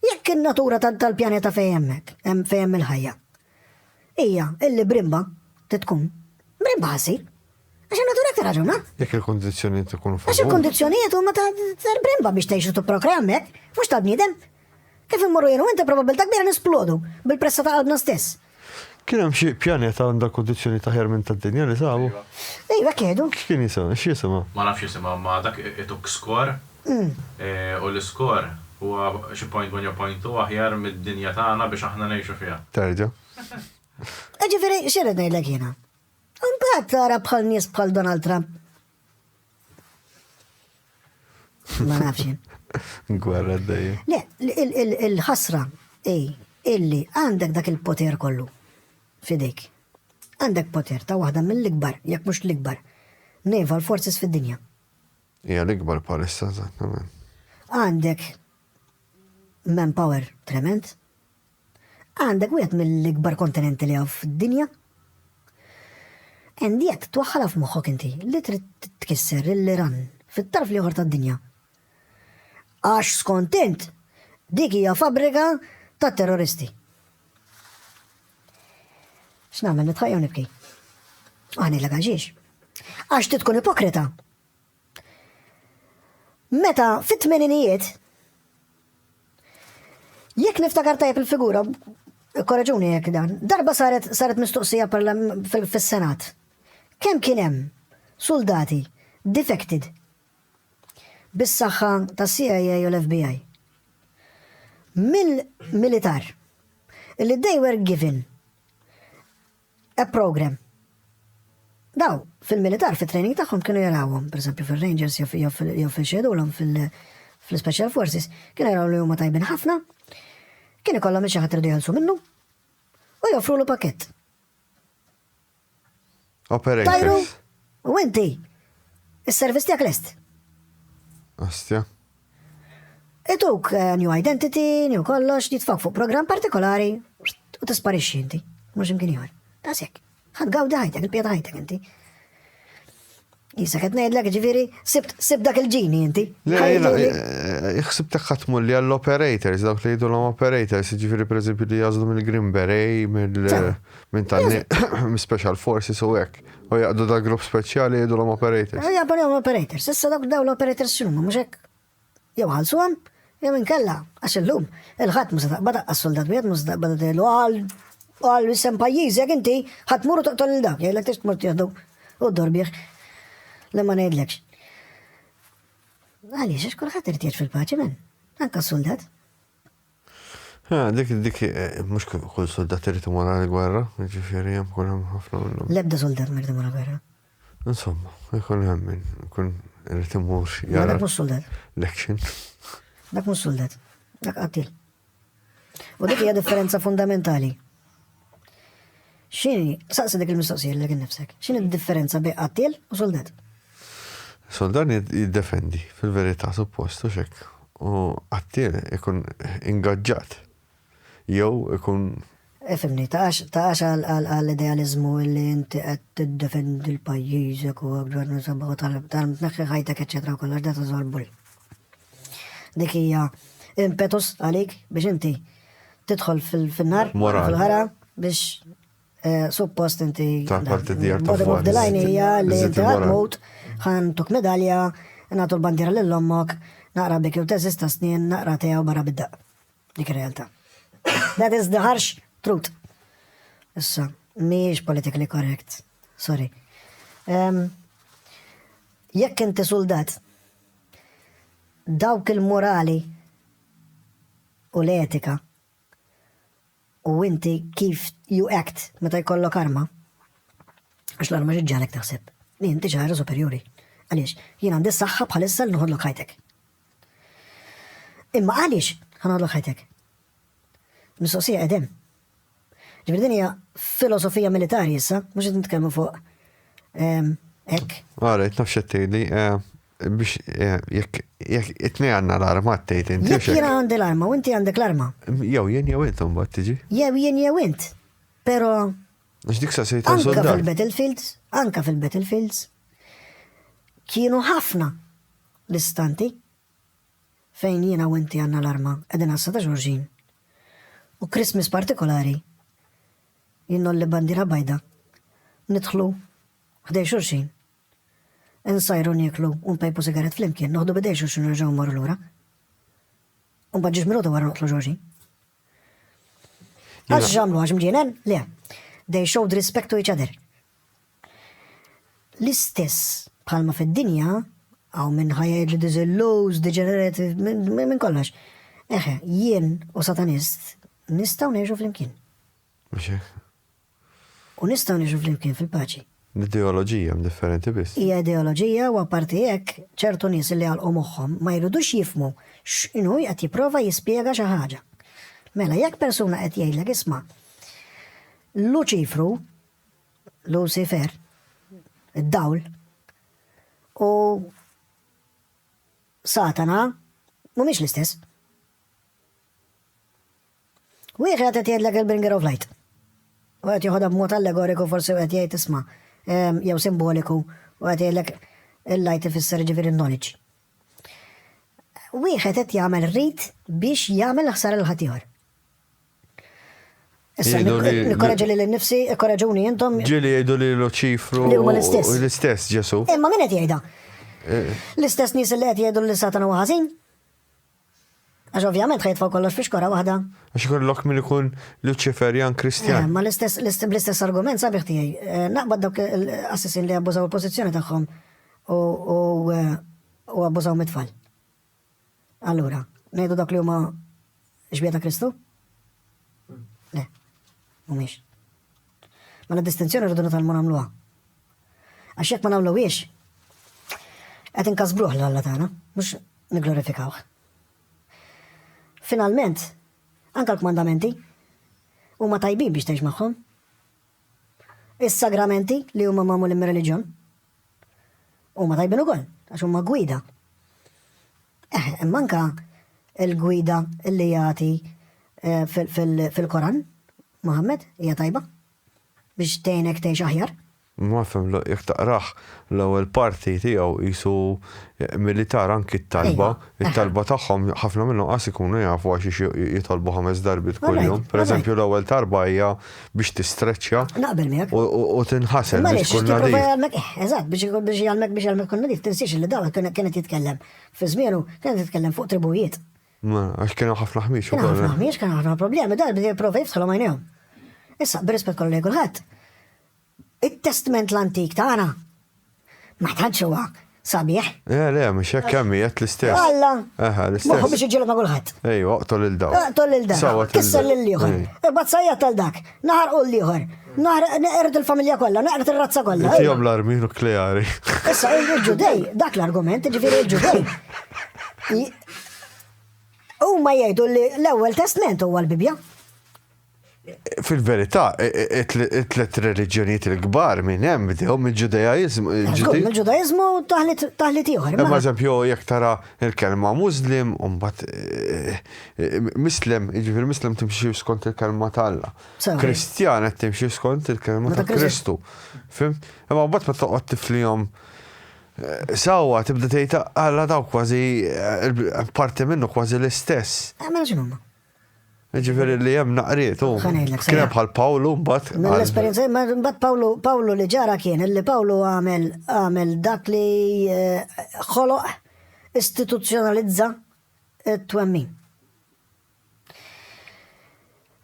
Jekk in-natura tal-pjaneta fejn hemmhekk hemm fejn hemm il-ħajja hija illi brimba trid tkun, brimba ħa ssir. Għax in-natura aktar ħaġa huma. Jekk il-kundizzjonijiet ikunu favur. Għax il-kundizzjonijiet huma tal-brimba biex tgħix u tipprokrea hemmhekk, mhux tal-bniedem. Kif immorru jenu inti probabbiltà kbira nisplodu bil-pressa ta' qalbna stess. Kien hemm xi pjaneta għandha kundizzjonijiet aħjar minn tad-dinja li sabu? Ejwa kiedu. X'kien jisimha? X'jisimha? Ma nafx jisimha imma dak ituk skor u l-iskor huwa xi point one jew point two aħjar mid-dinja tagħna biex aħna ngħixu fiha. Terġa'. Jiġifieri x'irrid ngħidlek jiena? Imbagħad tara bħal nies bħal Donald Trump Ma nafx. Gwerra d-dej. Le, il-ħasra, ej, illi għandek dak il-poter kollu. Fidejk. Għandek poter ta' waħda mill-ikbar, jekk mhux l-ikbar, naval forces fid-dinja. Hija l-ikbar palissa, eżattament. Għandek manpower trement, Għandek wieħed mill-ikbar kontinenti li hawn fid-dinja. And jekk twaħħalha f'moħħok inti li trid tkisser lill-Iran fit-tarf l-ieħor tad-dinja. Għax skont int dik hija fabbrika ta' terroristi. X'nagħmel nitħajja nibki? Aħni l-għaxiex. Għax tkun ipokrita. Meta fit-tmeninijiet Jekk niftakar tajjeb il-figura, korreġuni jekk dan, darba saret saret mistoqsija fis-Senat. Kemm kien hemm suldati defected bis-saħħa tas-CIA u l-FBI? Mill-militar. Illi they were given A program. Daw, fil-militar, fit-training tagħhom kienu jarawhom, pereżempju fir-Rangers jew fil-xedulhom fil-Special Forces, kienu jaraw li huma tajbin ħafna, kien ikollhom xi ħadd irdu jħallsu minnu u joffrulu pakett. Operator. Tajru, u inti, is-servizz tiegħek lest. Astja. Ituk eh, new identity, new kollox, jitfak fuq program partikolari u tisparixxi inti, mhux imkien ieħor. Dasek, ħad gawdi ħajtek, il-pjata ħajtek inti. Jisa qed ngħidlek ġifieri sib dak il-ġini inti. Ħsibtek eh, ħatmu li għall-operators, dawk li jgħidu l-om operators, ġifieri pereżempju li jażlu mill-Green Beret, minn tal special forces u hekk. U jaqdu da grupp speċjali jgħidu l-om operators. Eh, jaqdu l-om operators, issa dak daw l-operators xumma, muxek. Jew ħalsu għam, jew inkella, għax il-lum, il-ħat musa taqba daqqa soldat, bħed musa taqba daqqa l għal għal jisem pajjiż, jek inti, ħat muru toqtol il-dak, jgħidlek tix tmur tieħdu u dorbieħ. Le ma ngħidlekx. Għaliex, għax kulħadd irtieġ fil-paċi men, anka soldat. Ah, dik, dik, eh, mux kull soldat irrit imur għal gwerra, ġifiri jem kull hemm ħafna minnhom. Lebda soldat mirrit imur għal gwerra. Insomma, jkun hemm minn, kun irrit imur jara. Dak mux soldat. L-action. Dak mux soldat. Dak qattil. U dik hija differenza fundamentali. X'inhi, saqsi dik il-mistoqsija lilek innifsek, x'inhi d-differenza bejn qattiel u suldat? Suldat jiddefendi, fil-verità suppost hux hekk, u qattiel ikun ingaġġat jew ikun Ifhimni, taqax għall-idealiżmu li inti qed tiddefendi l-pajjiżek u tneħħi ħajtek eċċetera u kollox da ta' żorb bulli. Dik hija impetus għalik biex inti tidħol fil-nar, fil-ħara, biex eh, suppost inti. Ta' parti djar ta' fuq. Dilajn hija li inti għadmut, ħan tuk medalja, nagħtu l-bandiera lil ommok, naqra bik jew teżista snin, naqra tiegħu barra bidda. Dik ir-realtà. That is the harsh truth. Issa, mhijiex politically correct. Sorry. Um, jekk inti soldat, dawk il-morali u l-etika u inti kif you act meta jkollok arma, għax l-arma xi ġġagħlek taħseb li inti xi ħaġa superjuri. Għaliex, jien għandi s-saħħa bħalissa li noħodlok ħajtek. Imma għaliex ħanoħodlok ħajtek? Mistoqsija qegħdem. Ġifieri din hija filosofija militari issa, mhux qed nitkellmu fuq ehm, hekk. Ara, qed nafx qed tgħidli eh, biex eh, jekk jekk it-tnej għandna l-arma tgħid inti. Jekk jiena għandi l-arma u inti għandek l-arma. Jew jien jew intom bad tiġi. Jew jien jew int. Però Għax dik sa se jitgħu anka soldat. fil-battlefields, anka fil-battlefields, kienu ħafna l-istanti fejn jiena u inti għandna l-arma qegħdin għassa ta' xulxin u Christmas partikolari jien ngħolli bandiera bajda nidħlu ħdej xulxin insajru nieklu u npejpu sigarett flimkien noħdu b'idej xulxin u nerġgħu mmorru lura u mbagħad ġiex minuta wara noqtlu xulxin. Għax ġamlu għax mġienen? Le. They showed respect to each other. L-istess bħalma fid-dinja, għaw minn ħajja this loose, degenerative, minn kollox. Eħe, jien u satanist nistaw neġu fl-imkien. u nistgħu ngħixu flimkien fil-paċi. L-ideoloġija mdifferenti biss. Hija ideoloġija u apparti hekk, ċertu nies li għalqu moħħhom ma jridux jifhmu x'inhu qed jipprova jispjega xi ħaġa. Mela jekk persuna qed jgħidlek isma' Luċifru, Lucifer, id-dawl, u Satana mhumiex l-istess. Wieħed qed jgħidlek il-bringer of light. U qed joħodha b'mod allegoriku forsi qed jgħid isma' ehm, jew simboliku u qed jgħidlek il-light ifisser ġifieri knowledge. Wieħed qed jagħmel rit biex jagħmel ħsar il-ħatiħor. Issa, nikkoraġi li l-nifsi, ikkoraġuni jintom. Ġili jgħidu li l-ċifru. Li huma l-istess. L-istess, Ġesu. Imma min qed jgħidha? Eh. L-istess nies li qed jgħidu li satana huwa ħażin? Għax ovvjament ħajtfgħu kollox fi xkora waħda. Għax ikollok min ikun Luċiferjan Kristjan. Eh, ma l-istess argument sabiħ tiegħi. Eh, naqbad dawk l-assissin li abbużaw il-pożizzjoni tagħhom eh, u abbużaw mit-tfal. Allura, ngħidu dak li huma xbieta Kristu? Le, mhumiex. Ma l-distinzjoni rridu nitalmu nagħmluha. Għax jekk ma nagħmluhiex, qed inkasbruh l Alla tagħna, mhux nigglorifikawh. Finalment, anke l-kmandamenti huma tajbin biex tgħix magħhom. Is-sagramenti li huma magħmulin mir-reliġjon huma tajbin ukoll għax huma gwida. Eh, imma anke il-gwida li jagħti eh, fil-Koran, Muhammad, hija tajba. biex tgħinek tgħix aħjar. Ma fhimtx, jekk taqrah l-ewwel parti tiegħu qisu milli tara anki t-talba, it-talba tagħhom ħafna minnhom qas ikunu jafu għax jitolbu ħames darbiet kuljum. Per eżempju l-ewwel talba hija biex tistreċċja u tinħasel biex tkun nadif. Eżatt, biex jgħallmek biex jgħallmek tkun nadif, tinsiex li Dawed kien qed jitkellem fi żmienu kien qed jitkellem fuq tribujiet. Għax kienu ħafna ħmieġ. Kienu ħafna ħmieġ, kienu ħafna problemi, dan bdew prova jifsalhom għajnejhom. Issa, b'rispett kollu lejn kulħadd, it-testment l-antik tagħna ma tantx huwa sabiħ. Eh, le, mhux hekk kemm qed l-istess. Alla. Aha, l-istess. Moħħu biex iġġieled ma' kulħadd. Ej, oqtol il daw. Oqtol il daw. Kisser lil ieħor. Imbagħad sajja tal dak. Naħarqu l-ieħor. Naħarq neqred il-familja kollha, neqred ir-razza kollha. Tihom l-armi nukleari. Issa il-ġudej, dak l-argument, ġifieri il-ġudej. Huma jgħidu li l-ewwel testment huwa l-Bibja. Fil-verità, e, e, e, it-tlet reliġjonijiet il-kbar minn hemm bdew mill-Ġudajaizmu. Mill-Ġudajaizmu taħlit ieħor. Ma eżempju, jekk tara Il-kelma Muslim u mbagħad Mislem, jiġifieri Mislem timxi skont il-kelma ta' Alla. Kristjan qed timxi skont il-kelma ta' Kristu. Fimt? Imma mbagħad ma toqgħod tiflihom Sawa, tibda tgħid għala daw kważi parti minnu kważi l-istess. Għamel x'inhuma? Ġifiri li jem naqriet, u kienem bħal Pawlu mbat. L-esperienza, mbat Pawlu, Pawlu li ġara kien, li Pawlu għamel, għamel dak li eh, ħoloq istituzzjonalizza t-twemmin.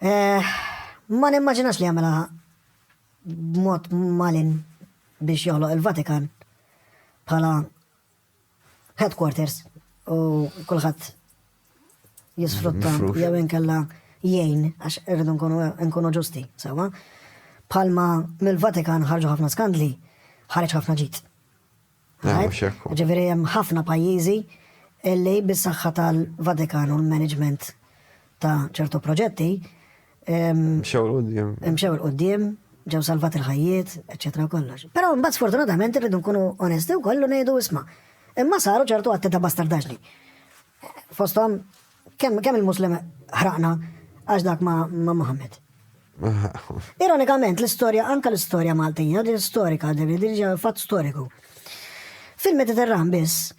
Eh, ma nimmaġinax li għamela b'mod malin biex joħloq il-Vatikan bħala headquarters u kulħadd jisfrutta jew inkella jgħin għax irridu nkunu ġusti, sewa. Palma mill-Vatikan ħarġu ħafna skandli, ħareġ ħafna ġit. Ġifieri hemm ħafna pajjiżi illi bis-saħħa tal-Vatikan u l-management ta' ċertu proġetti Mxew il-qoddim. Mxew il-qoddim, ġew salvat il-ħajjiet, eccetera kollox. Però mbagħad sfortunatament irridu nkunu onesti u kollu ngħidu isma'. Imma saru ċertu għatti ta' bastardaġni. Fostom, kemm kem il-Muslim ħraqna għax dak ma' Muhammad. Ironikament, l-istorja, anka l-istorja Maltija, din storika, din ġa fatt storiku. Fil-Mediterran biss,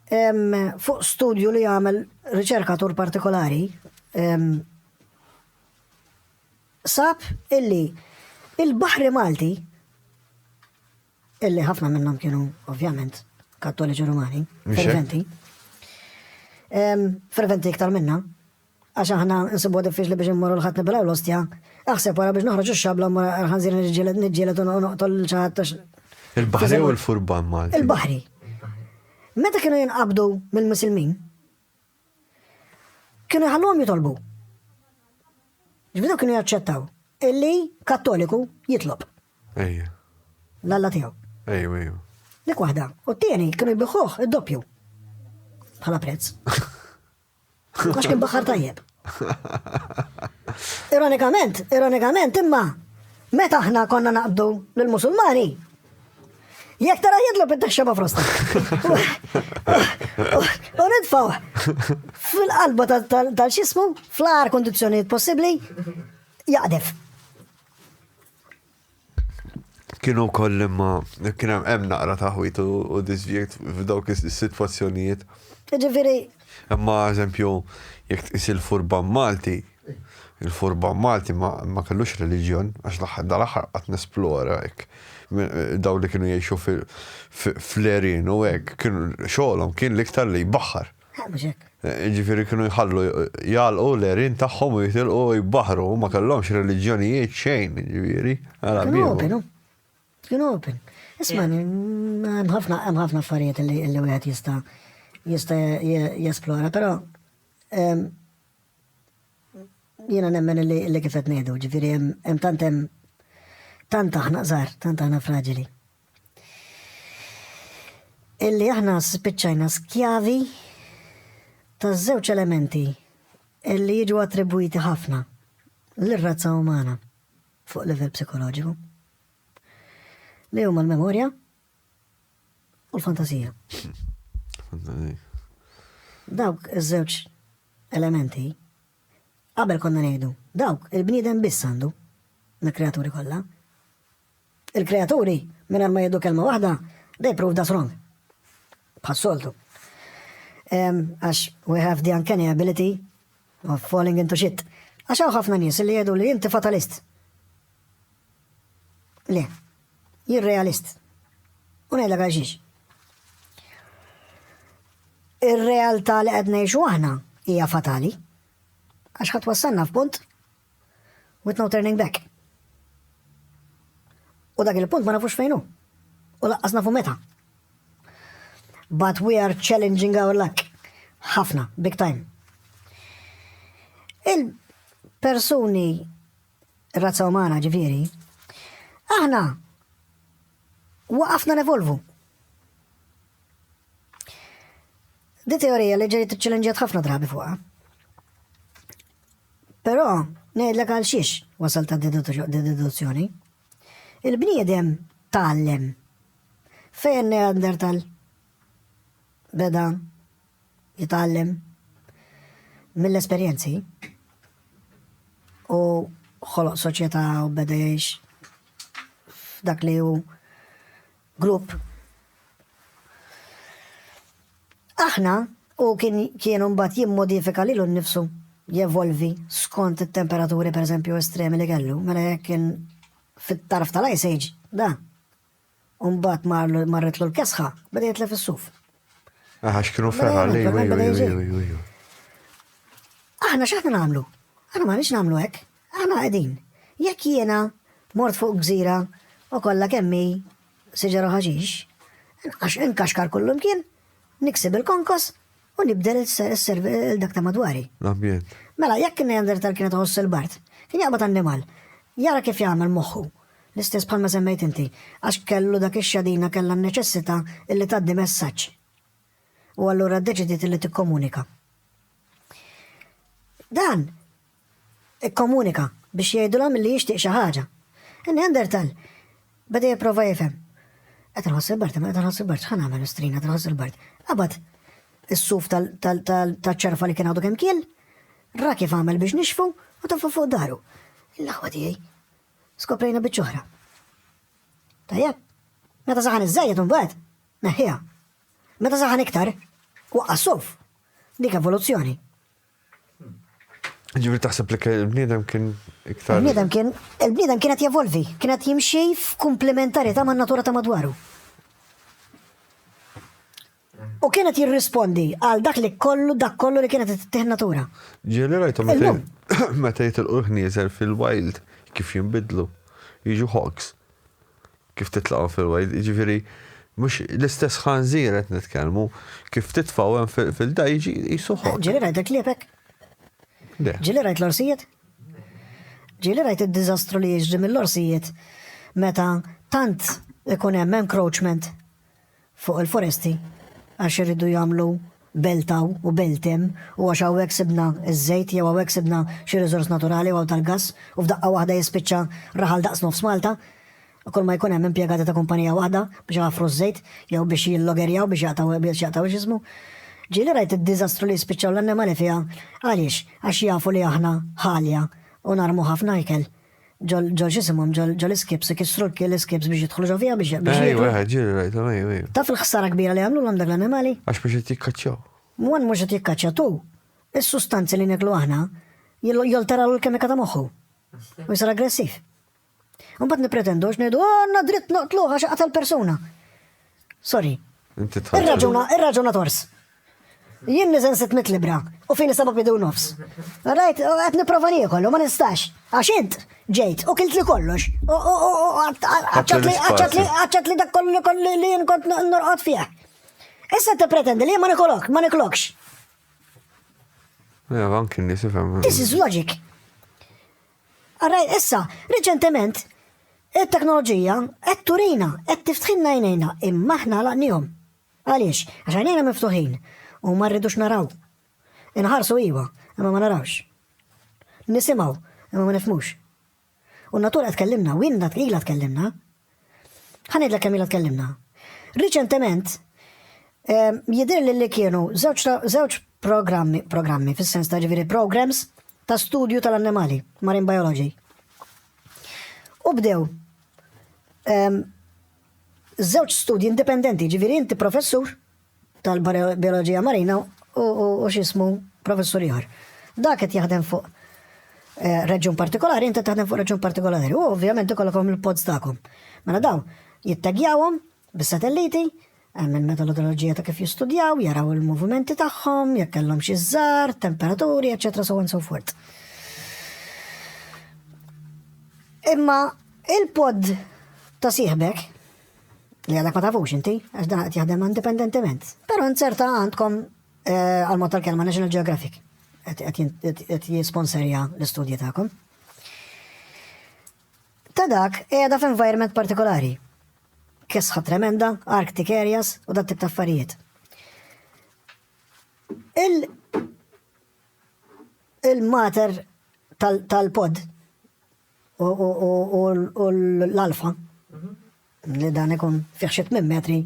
fuq studju li għamel riċerkatur partikolari, sab illi il-Baħri Malti, illi ħafna minnhom kienu ovvjament kattoliċi rumani, ferventi, ferventi iktar minna, għax aħna nsibu diffiċli biex immorru l-ħat nibilaw l-ostja, aħseb wara biex noħroġ xabla mora ħanżir nġielet u noqtol ċaħat. Il-bahri u l-furban Malti. Il-bahri. Meta kienu jinqabdu mill-Musulmin, Kienu jħalluhom jitolbu. Ġbidu kienu jaċċettaw illi kattoliku jitlob. Ejja. L-alla tiegħu. Ejju, ejju. Dik waħda. U t-tieni kienu jbiħuh id-doppju. Bħala prezz. Għax kien baħar tajjeb. Ironikament, ironikament, imma meta aħna konna naqbdu l-Musulmani, Jek tara jidlu bid-daxxa ma' frosta. U nitfaw fil-qalba tal-xismu, fl-għar kondizjoniet possibli, jaqdef. Kienu koll imma, kienu hemm naqra taħwit u disvjekt f'dawk is-sitwazzjonijiet. Ġifiri. Imma eżempju, jek is-furban Malti, Il-furban Malti ma kellux reliġjon, għax l-aħħar dal-aħħar qatt nesplora hekk. Dawn li kienu jgħixu fl-għerien u hekk, kienu xogħolhom kien l-iktar li jbaħħar. Ġifieri kienu jħallu jgħalqu l-erin tagħhom u jitilqu jbaħru, ma kellhomx reliġjonijiet xejn, ġifieri. Kienu open, kienu open. Isma' hemm ħafna hemm ħafna affarijiet li wieħed jista' jista' jesplora, però Jiena nemmen illi kif qed ngħidu, ġifieri hemm tant hemm tant aħna qżar, tant aħna fraġili. Illi aħna spiċċajna skjavi ta' żewġ elementi illi jiġu attribwiti ħafna l-razza umana fuq livell psikoloġiku. Li huma l-memorja u l-fantasija. Dawk iż-żewġ elementi, qabel konna ngħidu, dawk il-bniedem biss għandu, mill-kreaturi kollha. Il-kreaturi, minn ma jiddu kelma waħda, they prove us wrong. Bħas-soltu. Għax, we have the uncanny ability of falling into shit. Għax hawn ħafna nies li jgħidu li inti fatalist. Le, Jien realist. U ngħidlek għalxiex. Ir-realtà li qed ngħixu aħna hija fatali. Għax ħadd wassalna f'punt with no turning back. U dak il-punt ma nafux fejnu. U laqqas nafu meta. But we are challenging our luck. Ħafna, big time. Il-persuni ir-razza umana ġifieri, aħna waqafna nevolvu. Di teorija li ġejt ċċellenġjat ħafna drabi fuqha. Però ngħidlek għal xiex wasal ta' deduzzjoni. Il-bniedem tgħallem fejn Neandertal beda jitgħallem mill-esperjenzi u ħoloq soċjetà u beda jgħix f'dak li hu grupp. Aħna u kien kienu mbagħad jimmodifika lilu nnifsu jevolvi skont it-temperaturi pereżempju estremi li kellu, mela jekk kien fit-tarf tal-Ice Age, da, U mbagħad marlu marretlu l-kesħa, beda jitlef is-suf. Aha, x'kienu ferħa li Aħna x'aħna nagħmlu? Aħna ma nix nagħmlu hekk. Aħna qegħdin. Jekk jiena mort fuq gżira u kollha kemmi siġara ħaġix, għax inkaxkar kullum kien, niksib il-konkos, u nibdel il-dak ta' madwari. L-ambjent. Mela, jekk in-Neanderthal kienet iħoss il-bard, kien jaqbad annimal. Jara kif jagħmel moħħu. L-istess bħalma semmejt inti, għax kellu dak ix-xadina kellha n-neċessità illi tgħaddi messaġġ. U allura ddeċidiet illi tikkomunika. Dan Ikkomunika biex jgħidulha milli jixtieq xi ħaġa. In-Neanderthal beda jipprova jifhem. Qed inħoss il-bard, imma qed inħoss il-bard, x'ħa nagħmel mistrina qed inħoss il-bard. Qabad is-suf taċ-ċerfa li kien għadu kemm kiel, ra kif għamel biex nixfu u taffa fuq daru. Il-laħwa tiegħi skoprejna biċċ oħra. Tajjeb, meta saħan iż-żejjed imbagħad, neħħiha. Meta saħan iktar, waqqa' suf. Dik evoluzzjoni. Ġifieri taħseb li l-bniedem kien iktar. Il-bniedem kien il-bniedem kien qed jevolvi, kien qed jimxi f'kumplementarità man-natura ta' madwaru. U kien qed jirrispondi għal dak li kollu dak kollu li kien qed tittieħ natura. Ġieli rajtu meta jitilqu l-ħnieżer fil-wild kif jinbidlu, jiġu hogs. Kif titlaqhom fil-wild, jiġifieri mhux l-istess ħanżir qed nitkellmu, kif titfgħu hemm fil-da jiġi qisu ħodd. Ġieli rajt il-kliepek? Le. Ġieli rajt l-orsijiet? Ġieli rajt id-diżastru li jiġri mill-orsijiet meta tant ikun hemm encroachment fuq il-foresti għax iridu jagħmlu belt hawn u belt hemm u għax hawnhekk sibna ż-żejt jew hawnhekk sibna xi riżors naturali u hawn tal-gass u f'daqqa waħda jispiċċa raħal daqs nofs Malta kulma jkun hemm impjegati ta' kumpanija waħda biex iħaffru ż-żejt jew biex jillogerjaw biex jaqtgħu biex jaqtgħu x'ismu. Ġieli rajt id-diżastru li jispiċċaw l-annimali fiha. Għaliex? Għax jafu li aħna ħalja u narmu ħafna ikel. ġol ġisimhom ġol iskips ikissru l-iskips biex jidħlu ġo fija biex biex. Ejwa, ġiri rajta, ejwa. Taf il-ħsara kbira li għamlu l dak l-animali? Għax biex qed jikkaċċaw. Mwan mhux qed jikkaċċa tu. Is-sustanzi li neklu aħna jolteraw l-kemika ta' moħħu. U jsir aggressiv. Mbagħad nippretendu għax ngħidu għandna dritt noqtlu għax qatel persuna. Sorry. Inti tħadd. Irraġuna, irraġuna tors. Jien niżen 600 libra u fini seba' bidu nofs. Rajt, qed nipprova niekol u ma nistax. Għax int ġejt u kilt li kollox. U għaċċat li dak kollu li li jien kont norqod fih. Issa te pretendi li ma nikolok, ma niklokx. Ja, anki nisifem. This is logic. Ara issa, riċentement, it-teknoloġija qed turina, qed tiftħilna għajnejna, imma aħna għalaqniehom. Għaliex? Għax għajnejna miftuħin u ma rridux naraw. Inħarsu iva, imma ma narawx. Nisimgħu, imma ma nifhmux. U n-natura tkellimna, winna tqila tkellimna, Ħa ngħidlek kemm ilna tkellimna. Riċentement jidhirli li kienu żewġ programmi, programmi fis-sens ta' ġifieri programs ta' studju tal-annimali, marine biology. U bdew żewġ studji indipendenti, ġifieri inti professur tal-bioloġija marina u x'ismu professur ieħor. Dak qed jaħdem fuq eh, reġjun partikolari, inti taħdem fuq reġjun partikolari. U ovvjament ikollkom il-pods tagħkom. Mela dawn jittagjawhom bis-satelliti, hemm il-metodoloġija ta' kif jistudjaw, jaraw il-movimenti tagħhom, jekk kellhom xi żar, temperaturi, eċetera, so on so forth. Imma il-pod ta' sieħbek li għadek ma tafux inti, għax dan qed jaħdem indipendentement. Però nzerta għandkom eh, għal mod tal-kelma National Geographic qed jisponserja l-istudji tagħkom. Ta' dak qiegħda f'environment partikolari. Kisħa tremenda, Arctic areas u dat tip ta' affarijiet. Il-mater tal-pod u l-alfa, li dan ikun fih xi tmien metri,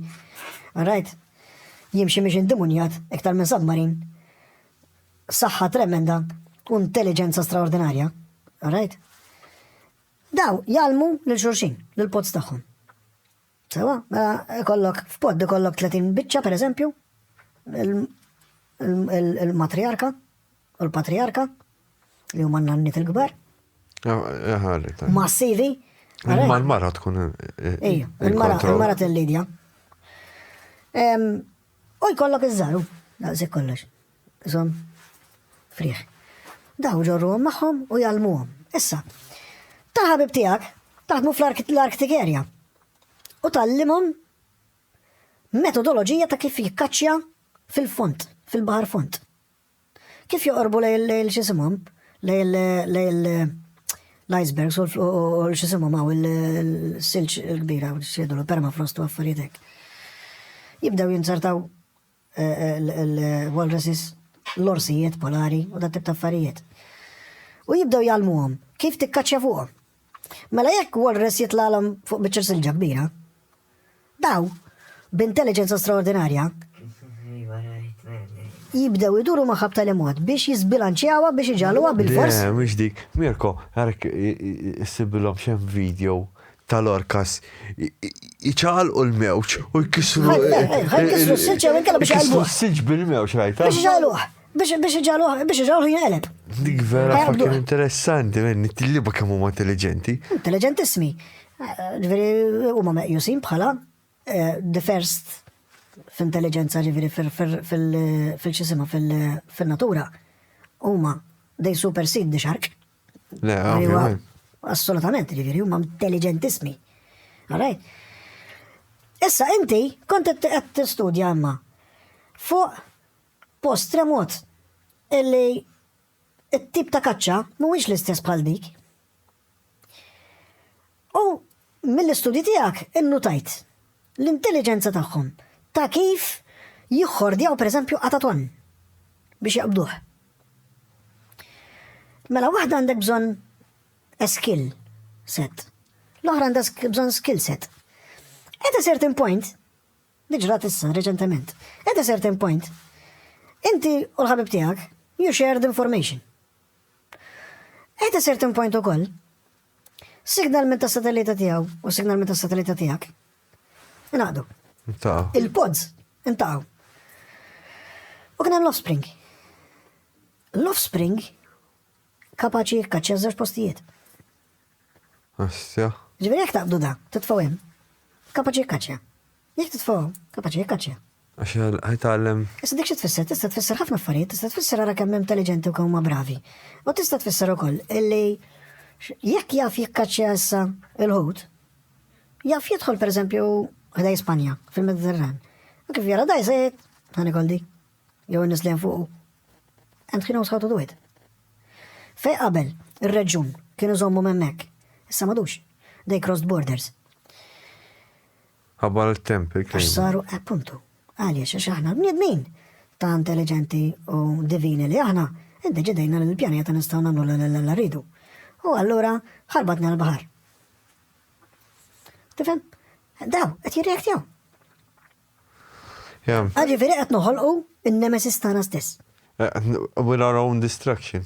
rajt, jimxi miex indimunjat, iktar minn submarin, saħħa tremenda u intelliġenza straordinarja, rajt. Daw jgħallmu lil xulxin, lill-pods tagħhom. Sewa, mela ikollok f'pod ikollok 30 biċċa pereżempju, il-matriarka u l-patriarka li huma n-nanniet il-kbar. Massivi. Ma l-mara tkun. Ejja, il-mara, il-mara tal-Lidja. U jkollok iż-żaru, daqsik kollox. Żomm frieħ. Daw ġorruhom magħhom u jgħallmuhom. Issa, ta' ħabib tiegħek taħdmu fl-Arctic Area u tallimhom metodoloġija ta' kif jikkaċċja fil-font, fil-baħar font. Kif joqorbu lejl xisimhom, lejl l-icebergs u l-xisimhom għaw il-silġ il-kbira u xiedu l-permafrost u għaffaritek. Jibdew jinzartaw l-walruses, l-orsijiet polari u dat tip ta' affarijiet. U jibdew jgħallmuhom kif tikkaċċja fuqhom. Mela jekk walrus jitlagħlhom fuq biċċa silġa kbira, daw b'intelliġenza straordinarja jibdew iduru magħha b'tali mod biex jiżbilanċjawha biex iġagħluha bil-fors. Le, mhux dik. Mirko, għarek issibilhom x'hemm video ta' Lorcas iċaqalqu l-mewġ u jkissru. Jkissru s-silġ jew inkella biex jaqalbu. S-silġ bil-mewġ rajta. Biex iġaluħ. Biex iġaluħ, biex iġaluħ jinqeleb. Dik vera fakin interessanti, men, it-tilliba kemm huma intelligenti. Intelligentissimi. Ġveri, huma meqjusin bħala eh, the first f'intelligenza ġveri fil-ċisima fil-natura. Huma, they supersede the shark. Le, ovvjament. Assolutament, ġifieri huma intelligentismi. Alright? Issa inti kont qed tistudja imma fuq post remot illi it-tip ta' kaċċa mhuwiex l-istess bħal dik. U mill-istudji tiegħek innutajt l-intelliġenza tagħhom ta' kif jiħħordjaw pereżempju qatatonn biex jaqbduh. Mela waħda għandek bżonn a skill set. L-oħra għandha bżonn skill set. At a certain point, diġrat issa reċentement, at a certain point, inti u l-ħabib tiegħek you shared information. At a certain point ukoll, Signal minn ta' satellita tiegħu u signal minn ta' satellita tiegħek. Inaqdu. Il-pods intaw. U kien hemm l-offspring. L-offspring kapaċi jikkaċċja żewġ postijiet. Assja. Ġifieri jekk taqbdu da, titfgħu hemm. Kapaċi jikkaċċja. Jekk titfgħu, kapaċi jikkaċċja. Għax ħajtgħallem. Issa dik xi tfisser? Tista' tfisser ħafna affarijiet, tista' tfisser ara kemm intelliġenti u kemm huma bravi. U tista' tfisser ukoll illi jekk jaf jikkaċċja issa il-ħut, jaf jidħol pereżempju ħdej Spanja fil-Mediterran. U kif jara daj se jgħid, ħani koldi, jew in-nies li hemm fuqu. And he knows how to do it. Fej qabel, ir-reġjun kienu żommu memmek, issa madux. They crossed borders. Ħabbar it-temp il-kelma. Għax saru appuntu. Għaliex għax aħna l-bniedmin ta' intelligenti u divini li aħna iddeċidejna li l-pjaneta nistgħu nagħmlu l rridu. U allura ħarbatna l-baħar. Tifhem? Daw, qed jirreaktjaw. Għaġi veri qed noħolqu in-nemesis tagħna stess. Eh, with our own destruction.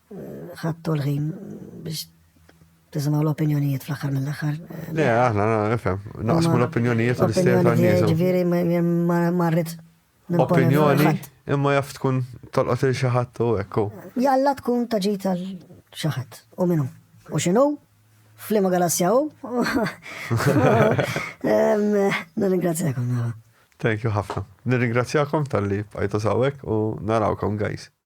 Ħadtu l-ħin biex tisimgħu l-opinjonijiet fl-aħħar mill-aħħar. Le, aħna nifhem, naqsmu l-opinjonijiet u l-istejjer ta' nies. Ġifieri ma rrid. Opinjoni imma jaf tkun tolqot il xi ħadd u ekku. Jalla tkun ta' ġid għal xi ħadd u minnu. U x'inhu? Flima galassja u. Nirringrazzjakom. Thank you ħafna. Nirringrazzjakom tal-li bqajtu sawek u narawkom guys.